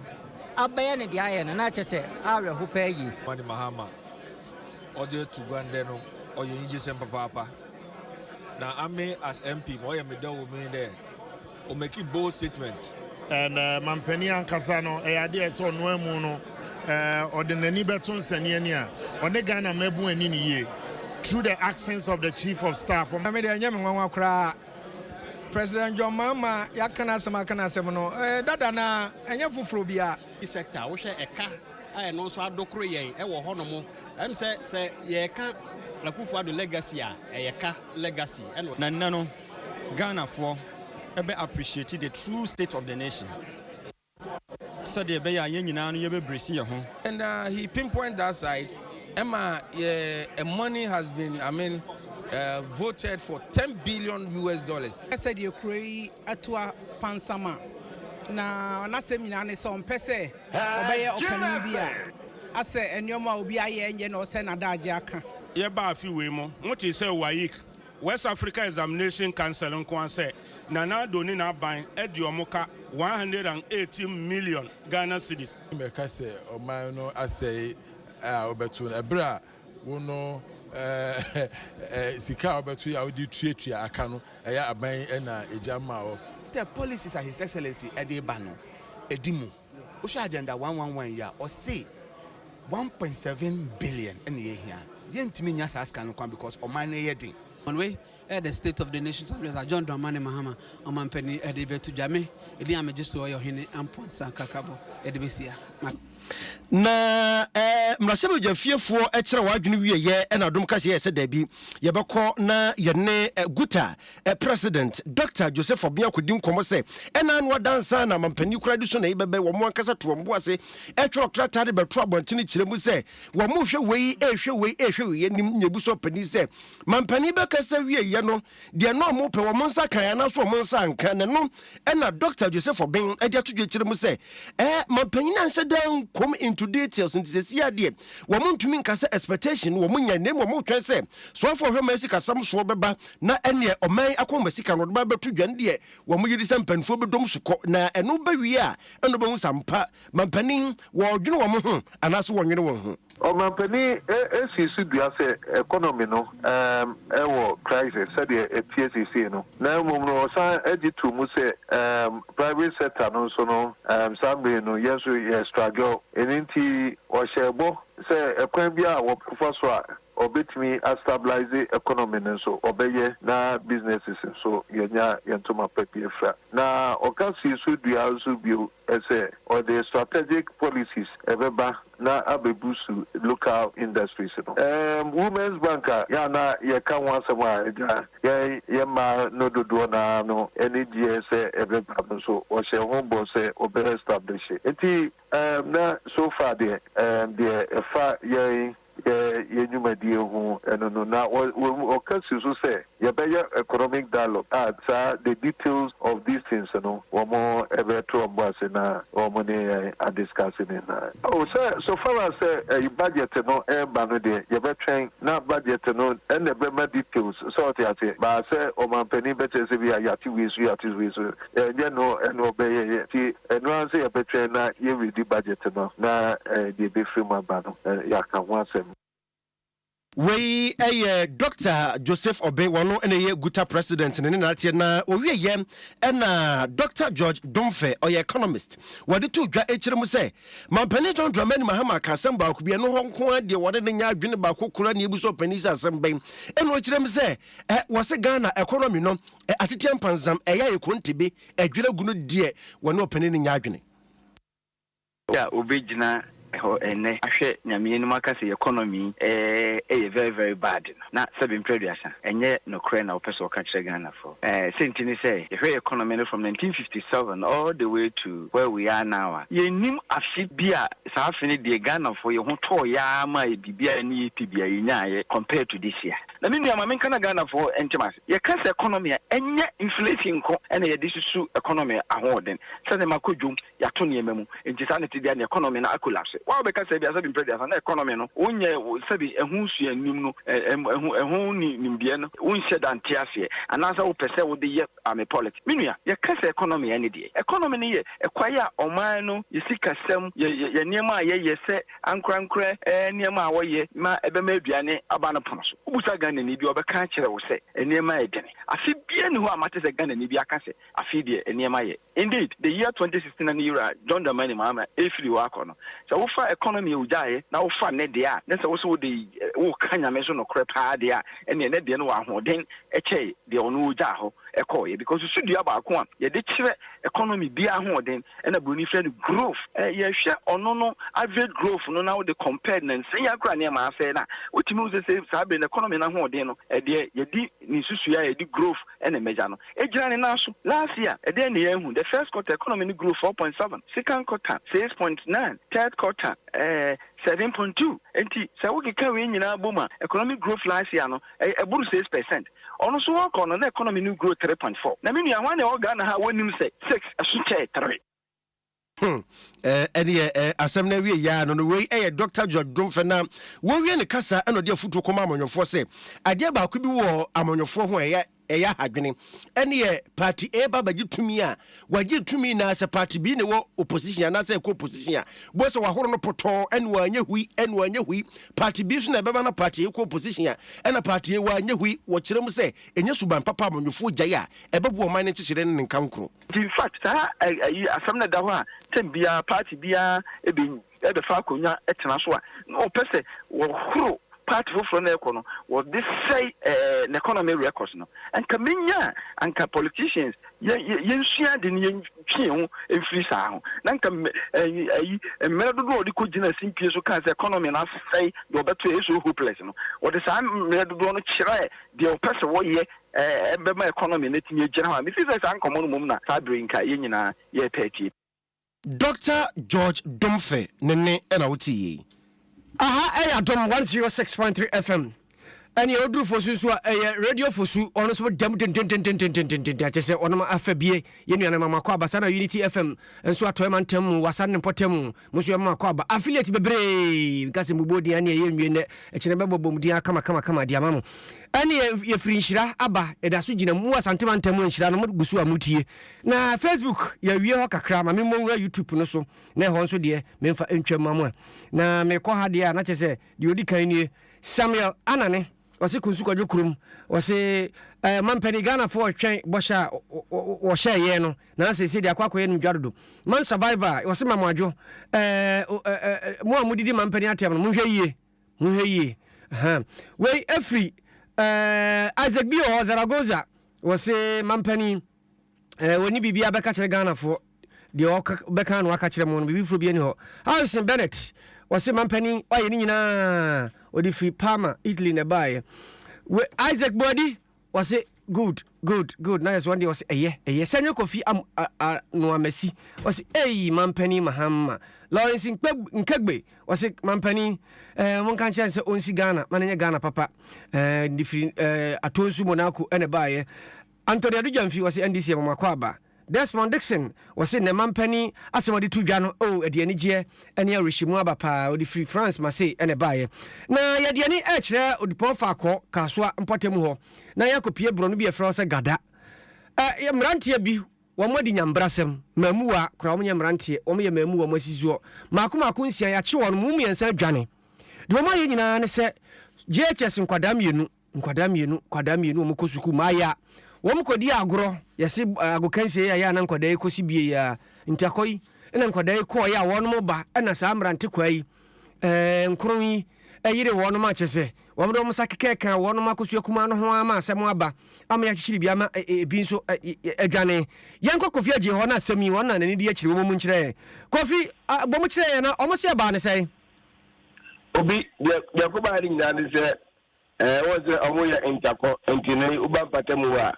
abɛyɛ ne deɛ ayɛ no na kyɛ sɛ awerɛho paa yie. Kwame Mahama ɔde ato gua ndɛ no ɔyɛ enyigyesɛm papaapa na ame as MP ma ɔyɛ me dɛ wɔ mu yi dɛ O meki bold statement. And mampanin ankasa no ɛyɛ adeɛ a ɛsɛ ɔnoa mu no ɔde n'ani bɛto nsɛnneɛ ni a ɔne Ghana mmabun ani no yie through the actions of the chief of staff. Wɔn. Me deɛ ɛnyɛ me nwanwa koraa President John Mahama yɛaka n'asɛm aka n'asɛm no dada no ara ɛnyɛ foforɔ biara. Sector a wohwɛ ɛka a ɛno nso adokoro yɛn ɛwɔ hɔ nom ɛm sɛ sɛ yɛreka Akufo-Addo legacy a ɛyɛ ka legacy ɛna. Na nnɛ no Ghanafoɔ bɛ appreciate the true state of the nation sɛdeɛ ɛbɛyɛ a yɛn nyinaa no yɛbɛbrɛsi yɛn ho. And he pinpoint that side ɛma yɛ money has been I mean voted for ten billion US dollars. Sɛdeɛ kuro yi atu apansam a, na n'asɛm nyinaa ne sɛ ɔmpɛ sɛ ɔbɛyɛ ɔpanin bi a asɛ nneɛma a obi ayɛ nyɛ na ɔsɛ n'adagye aka. Yɛbaa afe wei mu, motee sɛ WAEC West Africa Examination Council nko ara sɛ Nana Addo ne n'aban de wɔn ka one hundred and eighteen million Ghana cedis. Mɛka sɛ ɔman no asɛe a wobɛto no ɛberɛ a wo no sika a wobɛto yɛ a wode retuatua aka no ɛyɛ aban na ɛgya ma wo. Sɛ policies a His Excellency de reba no di mu. Wohwɛ agenda one one one yi a, ɔse one point seven billion na yɛhia. Yɛntumi nnya saa sika no koraa because ɔman no yɛ den. Wɔn wei yɛ the state of the nation's address a John Dramani Mahama, ɔmanpanin ɛde rebɛto dwa. Me edin a megye soɔ yɛ Ɔhene Ampon Sankakabo ɛde bɛsia ma. Na mmarahyɛbadwafiefoɔ kyerɛw adwene wieɛ na dom kaseɛ sɛ daabi, yɛbɛkɔ na yɛne Guta President Dɔkta Joseph Obia kɔdi nkɔmmɔ sɛ ɛna ano adansa na amampanin kura de so na ɛbɛbɛ wɔn ankasa to wɔn bo ase ɛtwerɛ krataa de bɛto abɔntene kyerɛ mu sɛ wɔn hwɛ wei ɛhwɛ wei ɛhwɛ wei anim nyɛ bu so panin sɛ mampanin bɛkasa wieyɛ no deɛ na wɔn pɛ wɔn nsa kan anaso wɔn nsa anka na no ɛna Dɔkta Joseph Obeng ɛde ato dwa kyerɛ mu sɛ ɛɛ mampanin anhyɛ dan nkom into details nti sɛ si adeɛ wɔn ntumi nkasa expectation wɔn nya na mu wɔn twɛn sɛ soafoɔ hwɛ ma asi kasam soɔ bɛba na ɛneɛ ɔman akɔma sika no ɔde ba bɛto dwa no deɛ wɔn yedi sɛ mpanimfoɔ bɛdɔ mu so kɔ na ɛno bɛwie a ɛna ɔbɛhu sɛ ampa mampanin wɔdwene wɔn ho anaasɛ wɔnnwene wɔn ho. Ɔmampanin sii so dua sɛ economy no wɔ crisis sɛdeɛ ɛteɛ seesei no na mmom no ɔsan gye too mu sɛ private sector no nso no saa mmere no yɛn nso yɛ straggel ɛno nti ɔhyɛɛ bɔ sɛ ɛkwan biara a wɔbɛfa so a Ɔbɛtumi a stabilize economy no nso ɔbɛyɛ na businesses nso yɛnya yɛn ntoma pa bi afira. Na ɔka sii so dua nso bio sɛ ɔde strategic policies ɛbɛba na abɛbusu local industries no. Ɛɛm Women's Bank a yɛn a na yɛka ho asɛm a agya yɛn yɛn mmaa no dodoɔ no ara no ani gyeɛ sɛ ɛbɛba no nso ɔhyɛɛ ho bɔ sɛ ɔbɛ establishe. Nti Erm na so far deɛ erm deɛ ɛfa yɛn yɛ yɛn nwumadie ho ɛno no na wɔ wɔ wɔka si so sɛ yɛbɛyɛ economic dialogue a saa the details of these things no wɔn ɛbɛto wɔn bo ase na wɔn ne yɛn a discuss ne nyinaa. Oh sɛ so far as sɛ ɛyi budget no ɛreba no deɛ yɛbɛtwɛn na budget no ɛna ɛbɛma details sɛ wote aseɛ but sɛ ɔmanpanin bɛkyerɛ sɛ bi a yɛate wei so yɛate wei so Ɛnyɛ no na ɔbɛyɛ yɛn nti ɛno ara nso yɛbɛtwɛn na yɛredi budget no na deɛ ɛbɛfiri mu aba no yɛaka ho asɛm. Wei yɛ Dɔkta Joseph Obey, wɔno na ɛyɛ Guta President no ne nanateɛ na ɔwieyɛ na Dɔkta George Domfe, ɔyɛ Economist, wɔde too dwa akyire mu sɛ Mampanin John Dramani Mahama ka asɛm baako bi, ɛno hɔ nko ara deɛ wɔne no nyɛ adwene baako koraa nie, bisa ɔpanin sɛ asɛm bɛn, ɛno kyerɛ mu sɛ Eh, wɔse Ghana ɛkɔrɔ mi no, eh, ateteɛ mpanzam, ɛyɛ ayɛ kontebe, adwira gu no deɛ, wɔne ɔpanin no nyɛ adwene. Obi a ɔbɛgyina hɔ ɛnnɛ ahwɛ Nyame anim aka sɛ economy eh, ɛyɛ very very bad no, na sɛbe mprɛ aduasa, ɛnyɛ nokorɛ na wopɛ sɛ woka kyerɛ Ghanafoɔ. Eh, sɛ nti ne sɛ, yɛhwɛ yɛ economy no from 1957 all the way to where we are now a, yɛnnim afe bi a saa afe no deɛ Ghanafoɔ yɛho tɔɔeɛ ara maa yɛ biribi a ɛne yɛ pɛ biara yɛnyaaeɛ compared to this year. Na me nua ma menka na Ghanafoɔ nte mo ase. Yɛka sɛ economy a, ɛnyɛ inflation nko na yɛde susu economy ahoɔden. Sɛ nneɛma kɔ dwom, yɛato nneɛma mu, nti saa na ɛte biara na economy no akolapse. Wo a wobɛka sɛ aduasa bi mpere aduasa na economy no wonyɛ, sɛbi ɛho sua nnim no, ɛho ɛho nni nimdeɛ no, wonhyɛ da nte aseɛ, anaasɛ wopɛ sɛ wode yɛ army politics. Me nua, yɛka sɛ economy a ɛne deɛ? Economy no yɛ ɛkwae a ɔman no, yɛ sikasɛm, yɛ yɛ nneɛma a yɛyɛ sɛ ankorankorɛ nneɛma a wɔyɛ ma ɛbɛma aduane aba no pono so. Wobisa Ghanani bi a, ɔbɛka akyerɛ wo sɛ nneɛma yɛ dene. Afe biara nni hɔ a mate sɛ Ghanani bi aka sɛ, Afe yi deɛ, nneɛma yɛ. Indeed, the year 2016 a ne wura, John Dramani Mahama, refiri hɔ akɔ no, sɛ wofa economy a ɔgyaeɛ na wofa ne deɛ a, na sɛ wo nso wode reka Nyame so nokorɛ pa ara deɛ a, ɛnneɛ ne deɛ no wɔ ahoɔden kyɛe deɛ ɔno ɔgyaa hɔ kɔeɛ. Because so dua baako a yɛde kyerɛ economy bia ahoɔden ɛna buroni frɛ no growth. Yɛhwɛ ɔno no average growth no na wode compared no nsɛn yi ara koraa nneɛma asɛe no a, wotumi hu sɛ sei saa bere no economy no ahoɔden no ɛdeɛ yɛde ne nsusuiɛ a yɛde growth ɛna ɛmɛgya no. Egyina ne nan so. Last year ɛdeɛn na yɛahu? The first quarter economy no grew four point seven, second quarter six point nine, third quarter ɛɛ seven point two. Enti sɛ wokeka wei nyinaa bom a economic growth last year no Ɛyɛ ɛboro six percent. Ɔno nso ɔɔkɔ no na economy no grow three point four. Na me nua hwan na ɛwɔ Ghana ha a wonnim sɛ six ɛso kyɛɛ three? Hmm eh, ɛneɛ eh, asɛm no awie yaa no no wei ɛyɛ Dr. George Domfɛ na wɔwie ne kasa ɛna ɔde afutuo kɔma amanyɔfoɔ sɛ adeɛ baako bi wɔ amanyɔfoɔ ho a ɛyɛ Ɛyɛ ahadwene. Ɛneɛ party A ba bɛgye tumi a, wagye tumi nyinaa, sɛ party B ne wɔ opposition anaasɛ ɛkɔ opposition a, bohu sɛ wahoro no pɔtɔɔ, ɛne wanyɛ hui, ɛne wanyɛ hui. Party B nso na ɛbɛba na party A kɔ opposition a, ɛna party A wanyɛ hui. Wɔkyerɛ mu sɛ, ɛnyɛ suban papa a amanyɔfoɔ gyae a, ɛbɛboa ɔman no nkyekyerɛ ne ne nkankoro. Nti in fact saa ayi asɛm no da hɔ a, term biara, party biara bɛ de fa akonnwa tena so a, na wɔpɛ sɛ wɔhoro part foforɔ no ɛkɔ no, wɔde sɛe ɛɛ ne economy records no. Anka menya a, anka politicians yɛ yɛ yɛnsua ade no yɛntwe yɛn ho mfiri saa ho. Na anka mme ɛyi ɛyi mmerɛ dodoɔ a wɔde kɔ gyina simpie so kaa sɛ economy no asɛe deɛ wɔbɛto ɛyɛ so hopeless no, wɔde saa mmerɛ dodoɔ no kyerɛɛ deɛ wɔpɛ sɛ wɔyɛ ɛɛ ɛbɛma economy no atumi agyina hɔ a. Mefili sɛ saa nkɔmmɔ no mmom na saa berɛ yi nka yɛn nyinaa yɛrepɛ atie. Doctor George Domfe ne ne na wo te yei. Aha ɛyɛ adom 106.3 FM ɛne ɛwɔ duru fosu nso a ɛyɛ radio fosu ɔno nso dɛm dendendendendendendendende akyɛ sɛ ɔnom afɛ bie yɛ nua no ma makɔ aba saa na unity fm nso atɔɛ ma ntam mu wasa ne mpɔtam mu mo nso yɛma makɔ aba affiliate bebree nka sɛ mbubuo din ɛne ɛyɛ nwie nɛ ɛkyerɛ bɛbɔ bom din akama kama kama de ama mo ɛne yɛfiri nhyira aba ɛda so gyina mu asante ma ntam nhyira no mo gu so a motie Na Facebook yɛawie hɔ kakra ma me mmɔ nwura YouTube no so na ɛhɔ nso deɛ memfa ntwa mma mu a na mekɔ ha deɛ a na kyɛ sɛ deɛ ɔdi kan nie Samuel Anane ɔse Kunsu Kwadwo Kurom ɔse eh, mampani Ghanafoɔ twɛn bɔhyɛ a wɔhyɛɛ yɛn no na sɛ ɛsɛ deɛ akɔ akɔyɛ no dwa dodo man survivor ɔse ma mo adwo eh, eh, eh, mo a modidi mampani atɛm no monhwɛ yie monhwɛ yie wei ɛfiri eh, Isaac bi wɔ hɔ Zaragoza wɔse mampani eh, wɔne biribi abɛka kyerɛ Ghanafoɔ deɛ ɔbɛka ano aka kyerɛ mo no biribi foforɔ bi ani hɔ Harrison Bennett wɔse mampanin ɔayɛ ne nyinaa ɔde firi Parma Italy na ɛbaeɛ we Isaac Boadi wɔse good good good na yɛ so wɔn deɛ wɔse ɛyɛ ɛyɛ sɛ nyɛ Kofi am Noamasi wɔse ei mampanin Mahama Lawrence Nkegbe wɔse mampanin ɛɛ eh, monka nkyɛn sɛ ɔnsi Ghana ma no nyɛ Ghana papa ɛɛ eh, de firi ɛɛ eh, atɔnsu Monaco ɛna ɛbaeɛ Anthony Adu Gyamfi, wɔse NDC ama mo akwaaba. Desmond Dickson, wɔse nnɛ manpanin asɛm a ɔde to dwa no, oh, ɛde anigyeɛ ne awerɛhyɛmu aba paa, ɔde firi France Marseille na ɛbaeɛ. Na yɛde yɛn ani rekyerɛ Odupɔn Faakɔɔ, Kasoa mpɔtam hɔ, na yɛakɔpie borɔno bi a yɛfrɛ hɔ sɛ Gada. Ɛ, mmeranteɛ bi, wɔn adi nyambrasɛm, mmaamua koraa, wɔn nyɛ mmeranteɛ, wɔn yɛ mmaamua, wɔn asi soɔ, mmaako mmaako nsia, yɛakye wɔn, mu mmiɛnsa adwane. Deɛ wɔn ayɛ nyinaa ne sɛ JHS nkwadaa mmienu. Nkwadaa mmienu, nkwadaa mmienu wɔn kɔ sukuu maayɛ a wɔn kɔ di agorɔ yɛsi agokansie yɛ a na nkwadaa yi kɔ si bie yɛ a ntakɔ yi ɛna nkwadaa yi kɔɔ yɛ a wɔn ba ɛna saa mmerante kwaa yi ɛɛ nkoro yi ɛyere wɔn ma kyɛ sɛ wɔn de wɔn nsa kekɛ kan wɔn akosua kumaa no ho ama asɛm aba ama yɛakyekyere bi ama ebi nso adwane yɛn kɔ kofi agye hɔ na asɛm yi wɔn na n'ani di akyire wɔn mu nkyerɛ yɛn kofi bɔ mu kyerɛ yɛn na wɔn se ɛbaa ne sɛn. obi deɛ deɛ kɔbaa ne nyinaa ne sɛ Ɛɛ wɔn sɛ ɔmo yɛ ntakɔ nti na yi woba mpatamu hɔ a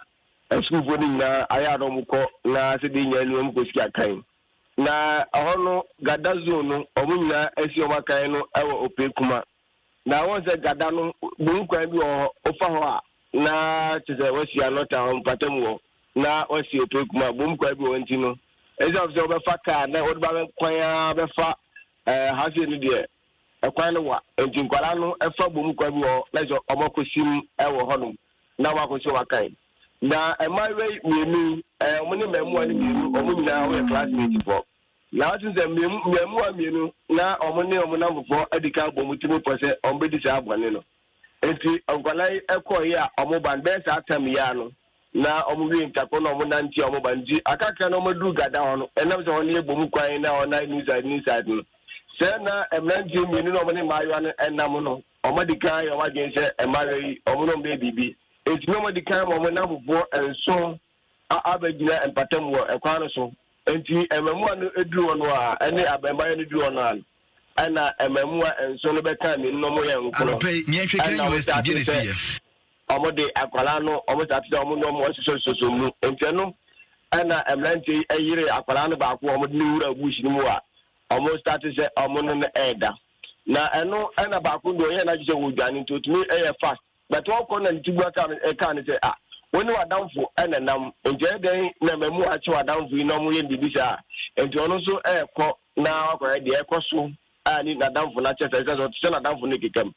asukuufoɔ no nyinaa ayɛ a na ɔmo kɔ na sɛdeɛ nyaa ni ɔmo kɔ si akan na ɛhɔ no gada zone no ɔmo nyinaa asi ɔmo akan no ɛwɔ opee kuma na wɔn sɛ gada no bohu kwan bi wɔ hɔ ofa hɔ a na kyɛ sɛ wɔasi anɔta wɔ mpatamu hɔ na wɔasi opee kuma bohu kwan bi wɔ hɔ nti no ɛsɛ sɛ wɔbɛfa kaa na wɔde ba bɛkwan a bɛfa ɛɛ hafie no deɛ Kwan no wa, enti nkwadaa no fa bɔ mu kwan bi wɔ hɔ na kyerɛ sɛ wɔakosim wɔ hɔnom na wɔakɔ so akan. Na mmaayewa yi mmienu yi, wɔne mmaamua no mmienu, wɔn nyinaa wɔyɛ classmatefoɔ. Na woatim sɛ mmaamua mmienu na wɔne wɔn nnamfofoɔ adi kan abɔ wɔn tirim pɔ sɛ wɔbɛdi saa bɔne no. Enti nkwadaa yi kɔɔ yi a wɔn ba no bɛyɛ saa tam yi ara no na wɔn wie ntako na wɔn nante a wɔn ba no nti akakra na wɔn aduru gada hɔ no ɛnam sɛ wɔn yɛ bom kwan na wɔn nan niside niside no sɛ na mmeranteɛ mmienu na wɔn ne mmaayewa no ɛnam no wɔn adi kan yɛ wɔn adwene sɛ mmaayewa yi wɔn na wɔn bɛyɛ biribi eti na wɔn adi kan ma wɔn nnamfofoɔ nson a abɛgyina mpatam wɔ kwan no so. Enti mmaamua no duru hɔ no ara ne abarimaa no duru hɔ no ara no na mmaamua nson no bɛka mmienu no wɔyɛ nkron na wɔtaa te sɛ wɔde akwadaa no wɔtaa te sɛ wɔne wɔn asosɔsosɔ mu. Enti ɛno na mmeranteɛ yi yere akwadaa no baako a wɔde no wura bush no mu a wɔtaa te sɛ wɔne no ɛreda. Na ɛno na baako deɛ ɔyɛ n'adwene sɛ ɔredwane nti ɔtumi yɛ fast. Bɛtɔɔ kɔ na ne tiboa ka no, ɛkaa no sɛ, Ah, wo ne w'adamfo na nam, enti ɛyɛ dɛn na m'amu akye w'adamfo yi na wɔyɛ no biribi saa a? Enti ɔno nso rekɔ na wakɔyɛ deɛ ɛkɔ so a ne n'adamfo no akyɛ saa, ɛsiane sɛ ɔte sɛ n'adamfo no rekeka mu.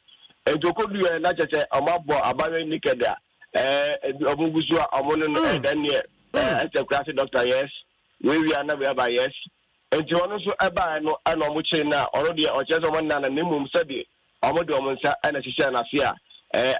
Enti ɔkɔduruiɛ na kyerɛ sɛ wɔabɔ abaayewa naked a, ɛɛ, wɔgu so a wɔne no ɛdanneɛ, ɛɛ, ɛsɛ kuraase dɔkta, yes, wei wia na wei aba, yes. Enti ɔno nso ɛbaeɛ no na wɔkyeree no a, ɔno deɛ ɔkyerɛ sɛ wɔnnaa no, na mmom sɛdeɛ Wɔde wɔn nsa na ɛhyehyɛɛ n'ase a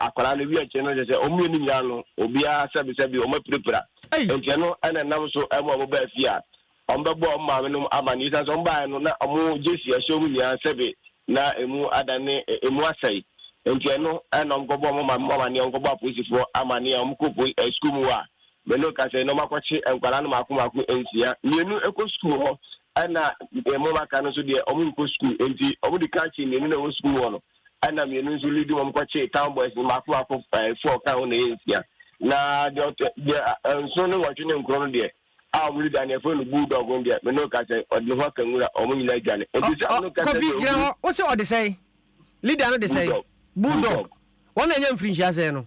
akwadaa no wia nkyɛn no kyerɛ sɛ wɔn mmienu nyinaa no, obiara sɛbesɛbe, wɔapirapira. Enti ɛno na ɛnam so ma wɔbaa fie a wɔbɛbɔɔ wɔn maamenom amanneɛ. Esiane sɛ wɔbaeɛ no, na wɔn gyesi ɛhyɛn mu nyinaa sɛbe na emu adane, emu asɛe. Enti ɛno na wɔkɔbɔɔ wɔn maamenom amanneɛ, wɔkɔbɔɔ apolisifoɔ amanneɛ, wɔkɔɔ sukuu mu hɔ a Bello ka sɛ, na wɔakɔkye nkwadaa no mmaako mmaako nsia. Mmienu kɔ sukuu hɔ, ɛnna wɔn a aka no nso deɛ, wɔnkɔ sukuu. Enti wɔde kaa kyee mmienu na ɛwɔ sukuu hɔ no, ɛnna mmienu nso leadi wɔn kɔkyee town boys no mmaako mmaako, ɛɛ four ka ho na ɛyɛ nsia. Na deɛ ɔtɔ deɛ nson ne nwɔtwe ne nkron no deɛ, a wɔn leader no yɛfrɛ no Bulldog no deɛ, Bello ka sɛ, ɔde ne ho aka nwura, wɔn nyinaa adwane. Enti sɛ Bello ka sɛ deɛ ɔbu. Wose ɔde sɛn? Leader no de sɛn? Bulldog. Bulldog. Wɔn na ɛnyɛ mfirinhyia sɛn no?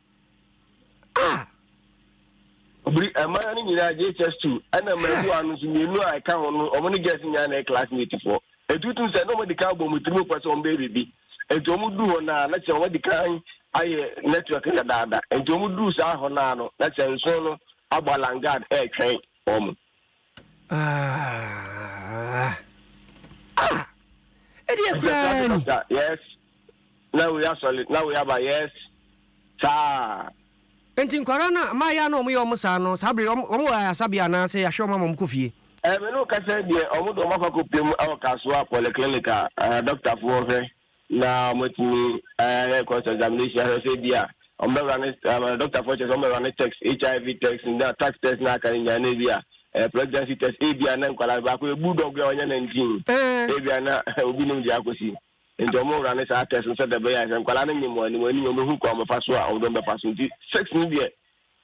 ah obiri ɛmaa no nyinaa jhs two ɛna mmaabua no nso mmienu a ɛka ho no wɔn ne girls nyinaa na ɛyɛ classmate foɔ etutum sɛ na wɔn adi kan bɔ wɔn tirim pɛ sɛ wɔn bɛyɛ biribi nti wɔn du hɔ naa na kyerɛ wɔn adi kan ayɛ network dadaada nti wɔn du saa hɔ naa no na kyerɛ nson no abɔ alangard ɛretwɛn wɔn. ɛdeɛ koraa ni yes na wei asɔle na wei aba yes saa nti nkwara no a maayɛ na ɔmoyɛ ɔmo saa no saa bere ɔmo ɔmo wɔ ayasabea anaasɛ yɛahwɛ ɔmo ama ɔmo kɔ fie ɛɛ me ne wo kasa deɛ ɔmo de ɔmo akɔ akɔpem wɔ kasoa polyclinic a ɛɛ dɔktafoɔ hwɛ na wɔatumi ayɛ cross examination ahwɛ sɛ ebi a wɔbɛwura ne ɛɛ dɔktafoɔ kyerɛ sɛ wɔbɛwura ne text hiv text na tax test na aka ne nyinaa na ebi a ɛɛ pregnancy test ebi a na nkwadaa baako yɛ bulldog a ɔnyɛ nineteen ebi a na obi nim deɛ akɔsi nti wɔn wura ne saa test no sɛ dɛbɛyɛ a sɛ nkwadaa no nyim wɔn anim anim wɔn ehu kwan wɔbɛfa so a wɔn dɔm bɛfa so nti sex no deɛ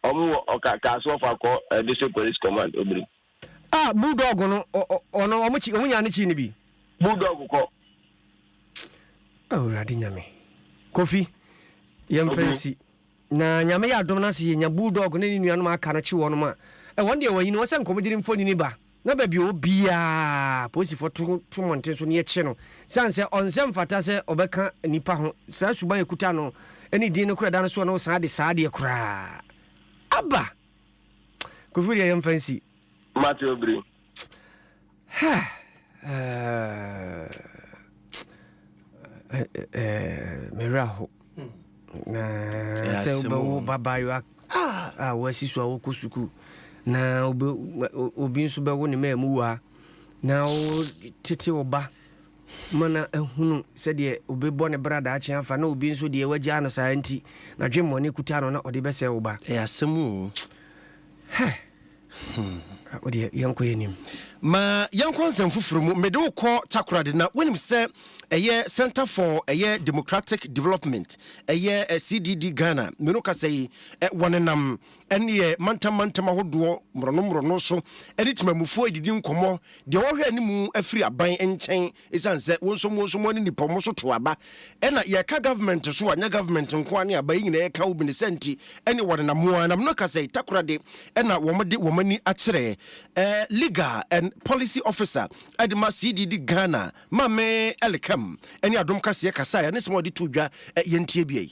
Ɔmo wɔ ɔka kaase wɔfa akɔ eh, district police command obiri. Ah bulldog no ɔno ɔmo kyi ɔmo nyaa ne kyi no bi. Bulldog kɔ. Awurade nyame. Kofi yɛn fɛ nsi. Na nyame yɛ adom na se yɛ nya bulldog ne ne nuanom aka no kyi wɔn ma. Ɛ wɔn deɛ wɔyi no wɔn sɛ nkɔmɔgyiri mfonini ba. Na baabi a ɔwɔ biara, apolisifoɔ to to mmɔnten so na wɔkye no. Ɛsiane sɛ ɔnsɛ mfata sɛ ɔbɛka nnipa ho, saa suban a ɛkuta no ne din no koraa da no soɔ na wosan de saa adeɛ koraa aba. Kofi wo deɛ yɛmfa nsi. Mate obiri. Ha! Ɛɛ, ɛɛ, ɛɛ, me werɛ ahow. na sɛ wobɛwo babaayewa a wɔasi so a wɔkɔ sukuu na obi nso bɛwo ne maa mu waa na wotete wo ba ma na ahunu sɛdeɛ obɛbɔ ne bra daakye afa na obi nso deɛ wagyaa no saa nti na dwemmɔne kuta no na ɔde bɛsɛ wo ba ɛyɛ asɛm o Hmm. Ah, o deɛ yɛnkɔ yɛ nim. Ma yɛnkɔ nsɛm foforɔ mu. Mede wo kɔ Takoradi na wonim sɛ ɛyɛ Center for ɛyɛ Democratic Development ɛyɛ eh, CDD Ghana mmienu kasa yi eh, wɔnenam ɛneɛ mantam mantam ahodoɔ mmorɔno mmorɔno so ɛne temamufoɔ ɛdidi nkɔmmɔ deɛ wɔhwɛ anim afiri aban nkyɛn Esiane sɛ wo nso mo nso moa ne nnipa wɔn so to aba ɛna yɛka government so a nyɛ government nko ara ne aba yi nyinaa yɛka wo bi ne sɛ nti ɛne wɔn nam mo ara nam no ka sɛ takora de ɛna wɔn de wɔn ani akyerɛ ɛɛ legal and policy officer ɛde ma CDD Ghana Maame Ellicam ɛne Adom Kaseɛ kasaeɛ ne sɛm a wɔde too dwa ɛ yɛntie bi ei.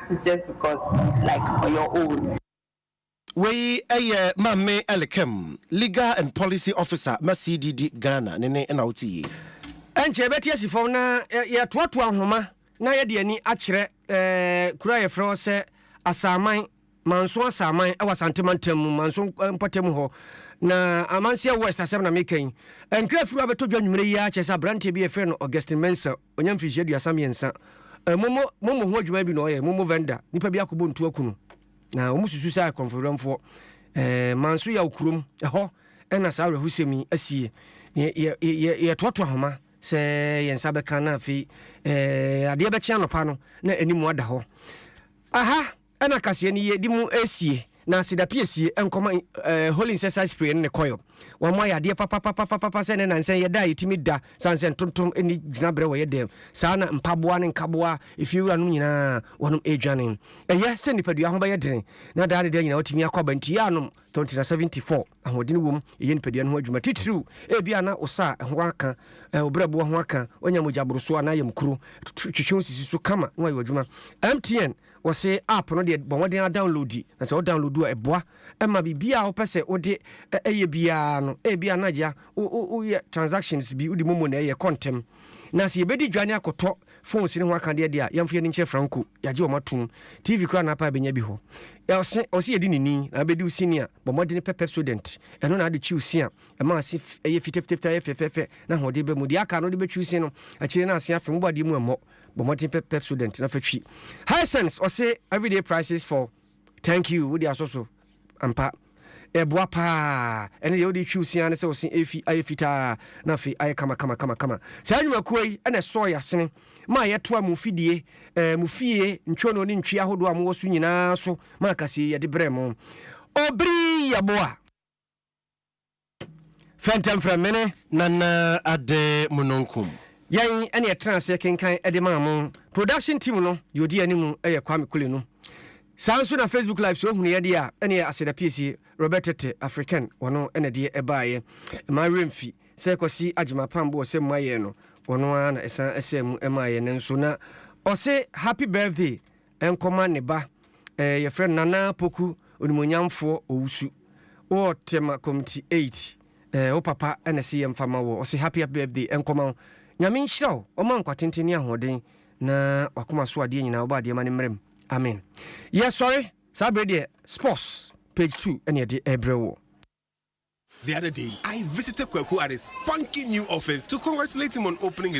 to just because like ɔyɛ old. Wei yɛ Maame Elikem, Legal and Policy Officer ma CDD Ghana ne nne na wote yi. Ɛnkyɛ yɛbɛte asi fam na yɛatoatoa nhoma na yɛde ani akyerɛ kuro a yɛfrɛ hɔ sɛ Asaman, Manso Asaman wɔ Asante Mantam mu, Manso mpɔtam hɔ. Na Amanseɛ West asɛm na meka yi. Nkra afiri hɔ abɛtɔ dwa anwumerɛ yi ara kyerɛ sɛ aberanteɛ bi a yɛfrɛ no Augustine Mensah Wanya mfirihyia aduasa mmiɛnsa. Momo momo ho adwuma bi na ɔyɛ, momo vendor. Nnipa bi akɔbɔ ntu aku no. Na wɔn susu sɛ ayɛ korɔmfowerɛmfoɔ. Ɛɛ, Manso Yaw kurom, ɛhɔ ɛna saa awerɛhosɛm yi asie. Yɛ, yɛ, yɛ, yɛtoato ahoma sɛ yɛn nsa bɛka na afei, ɛɛ, adeɛ bɛkye anɔpa no na anim ada hɔ. Aha! Ɛna kaseɛ no yɛ de mu ɛsie na seda pie sie nkɔma eh holy nsɛsa spray no ne coil wɔn mo ayɛ adeɛ papapapapapa sɛ ɛnɛ nansɛn yɛda a yɛtumi da sane sɛ ntontom ɛni gyina berɛ wɔ yɛ dɛm saa na mpaboa ne nkaboa efie wura nom nyinaa wɔnom ɛdwane ɛyɛ sɛ nipadua ho bɛyɛ dene na daa ne daa nyinaa watumi akɔ aba nti yɛanom tontina 74 ahoɔdene wom ɛyɛ nipadua no ho adwuma titiriw ebia na wo sa ho aka eh wo berɛboɔ ho aka wanya mogya borosoɔ anaa yam kuro twitwi wo sisi so kama na wayɛ w'adwuma mtn Wɔse app no deɛ bɔ mmɔden ara downloadi na sɛ wo download a ɛboa ma biribiara a wopɛ sɛ wode yɛ biara no ebia na agya woyɛ transactions bi wode momo na ɛyɛ ɛkɔ ntɛm na sɛ yɛbɛdi dwa ne akɔtɔ phones no ho akadeɛ deɛ a yɛmfa yɛn ani nkyerɛ franco yɛagye wɔn atom TV koraa na apa ɛbɛnya bi hɔ ɔse ɔse yɛdi ne ni na abɛdi wo sini a bɔ mmɔden pɛ Pepsodent ɛno na ade twi wo si a ɛma ase ɛyɛ fitafitafita ɛyɛ fɛfɛɛfɛ na ahoɔden bɛ mu deɛ aka no wode bɛtwi wo si no akyire no ase afem wobɔ adeɛ mu ɛmmɔ bɔ mmɔden pɛ Pepsodent na fa twi. Hisense ɔse everyday prices for thank you wode asɔ so ampa ɛboa paa ɛne deɛ wode twiw sea ne sɛ ɔse efi ayɛ fitaa na afei ayɛ kama kama kama kama saa nnwumakuo yi ɛna ɛsɔɔ yɛ asene ma yɛtoa mu fidie ɛɛ mu fie ntwono ne ntwi ahodoɔ a mowɔ so nyinaa so ma akasie yɛde brɛ mo obiri yaboa fɛntɛmfrɛmene nana ade munonkum. Yɛn ɛne ɛtena aseɛ kenkan ɛde maa mo. Production team no deɛ ɔdi anim ɛyɛ Kwame Kule no. Saa nso na Facebook live sɛ ɔhunu yɛdeɛ a ɛne Aseda Piesie, Robert Tete, African wɔno ɛna deɛ ɛbaeɛ. Ɛma werɛ mfi sɛ Kwasi Agyema Pambo ɔsɛ mu ayɛɛ no wɔno ara na ɛsan ɛsɛɛ mu ɛmaeɛ nanso na ɔse happy birthday nkɔma ne ba eh yɛfrɛ no Nana Poku Onimuonyamfoɔ Owusu wɔ Tema Komiti eight eh wo papa na ɛse yɛmfa ma woɔ ɔse happy happy birthday nkɔma wo Nyame nhyira wo ɔma nkwa tenten ne ahoɔden na wakoma so adeɛ nyinaa ɔbɔ adeɛ ma ne mmerɛ mu Amen Yɛsɔre saa bere deɛ sports page two na yɛde ɛrebrɛ woɔ. The other day I visited Kweku at his spunky new office to congratulate him on opening his.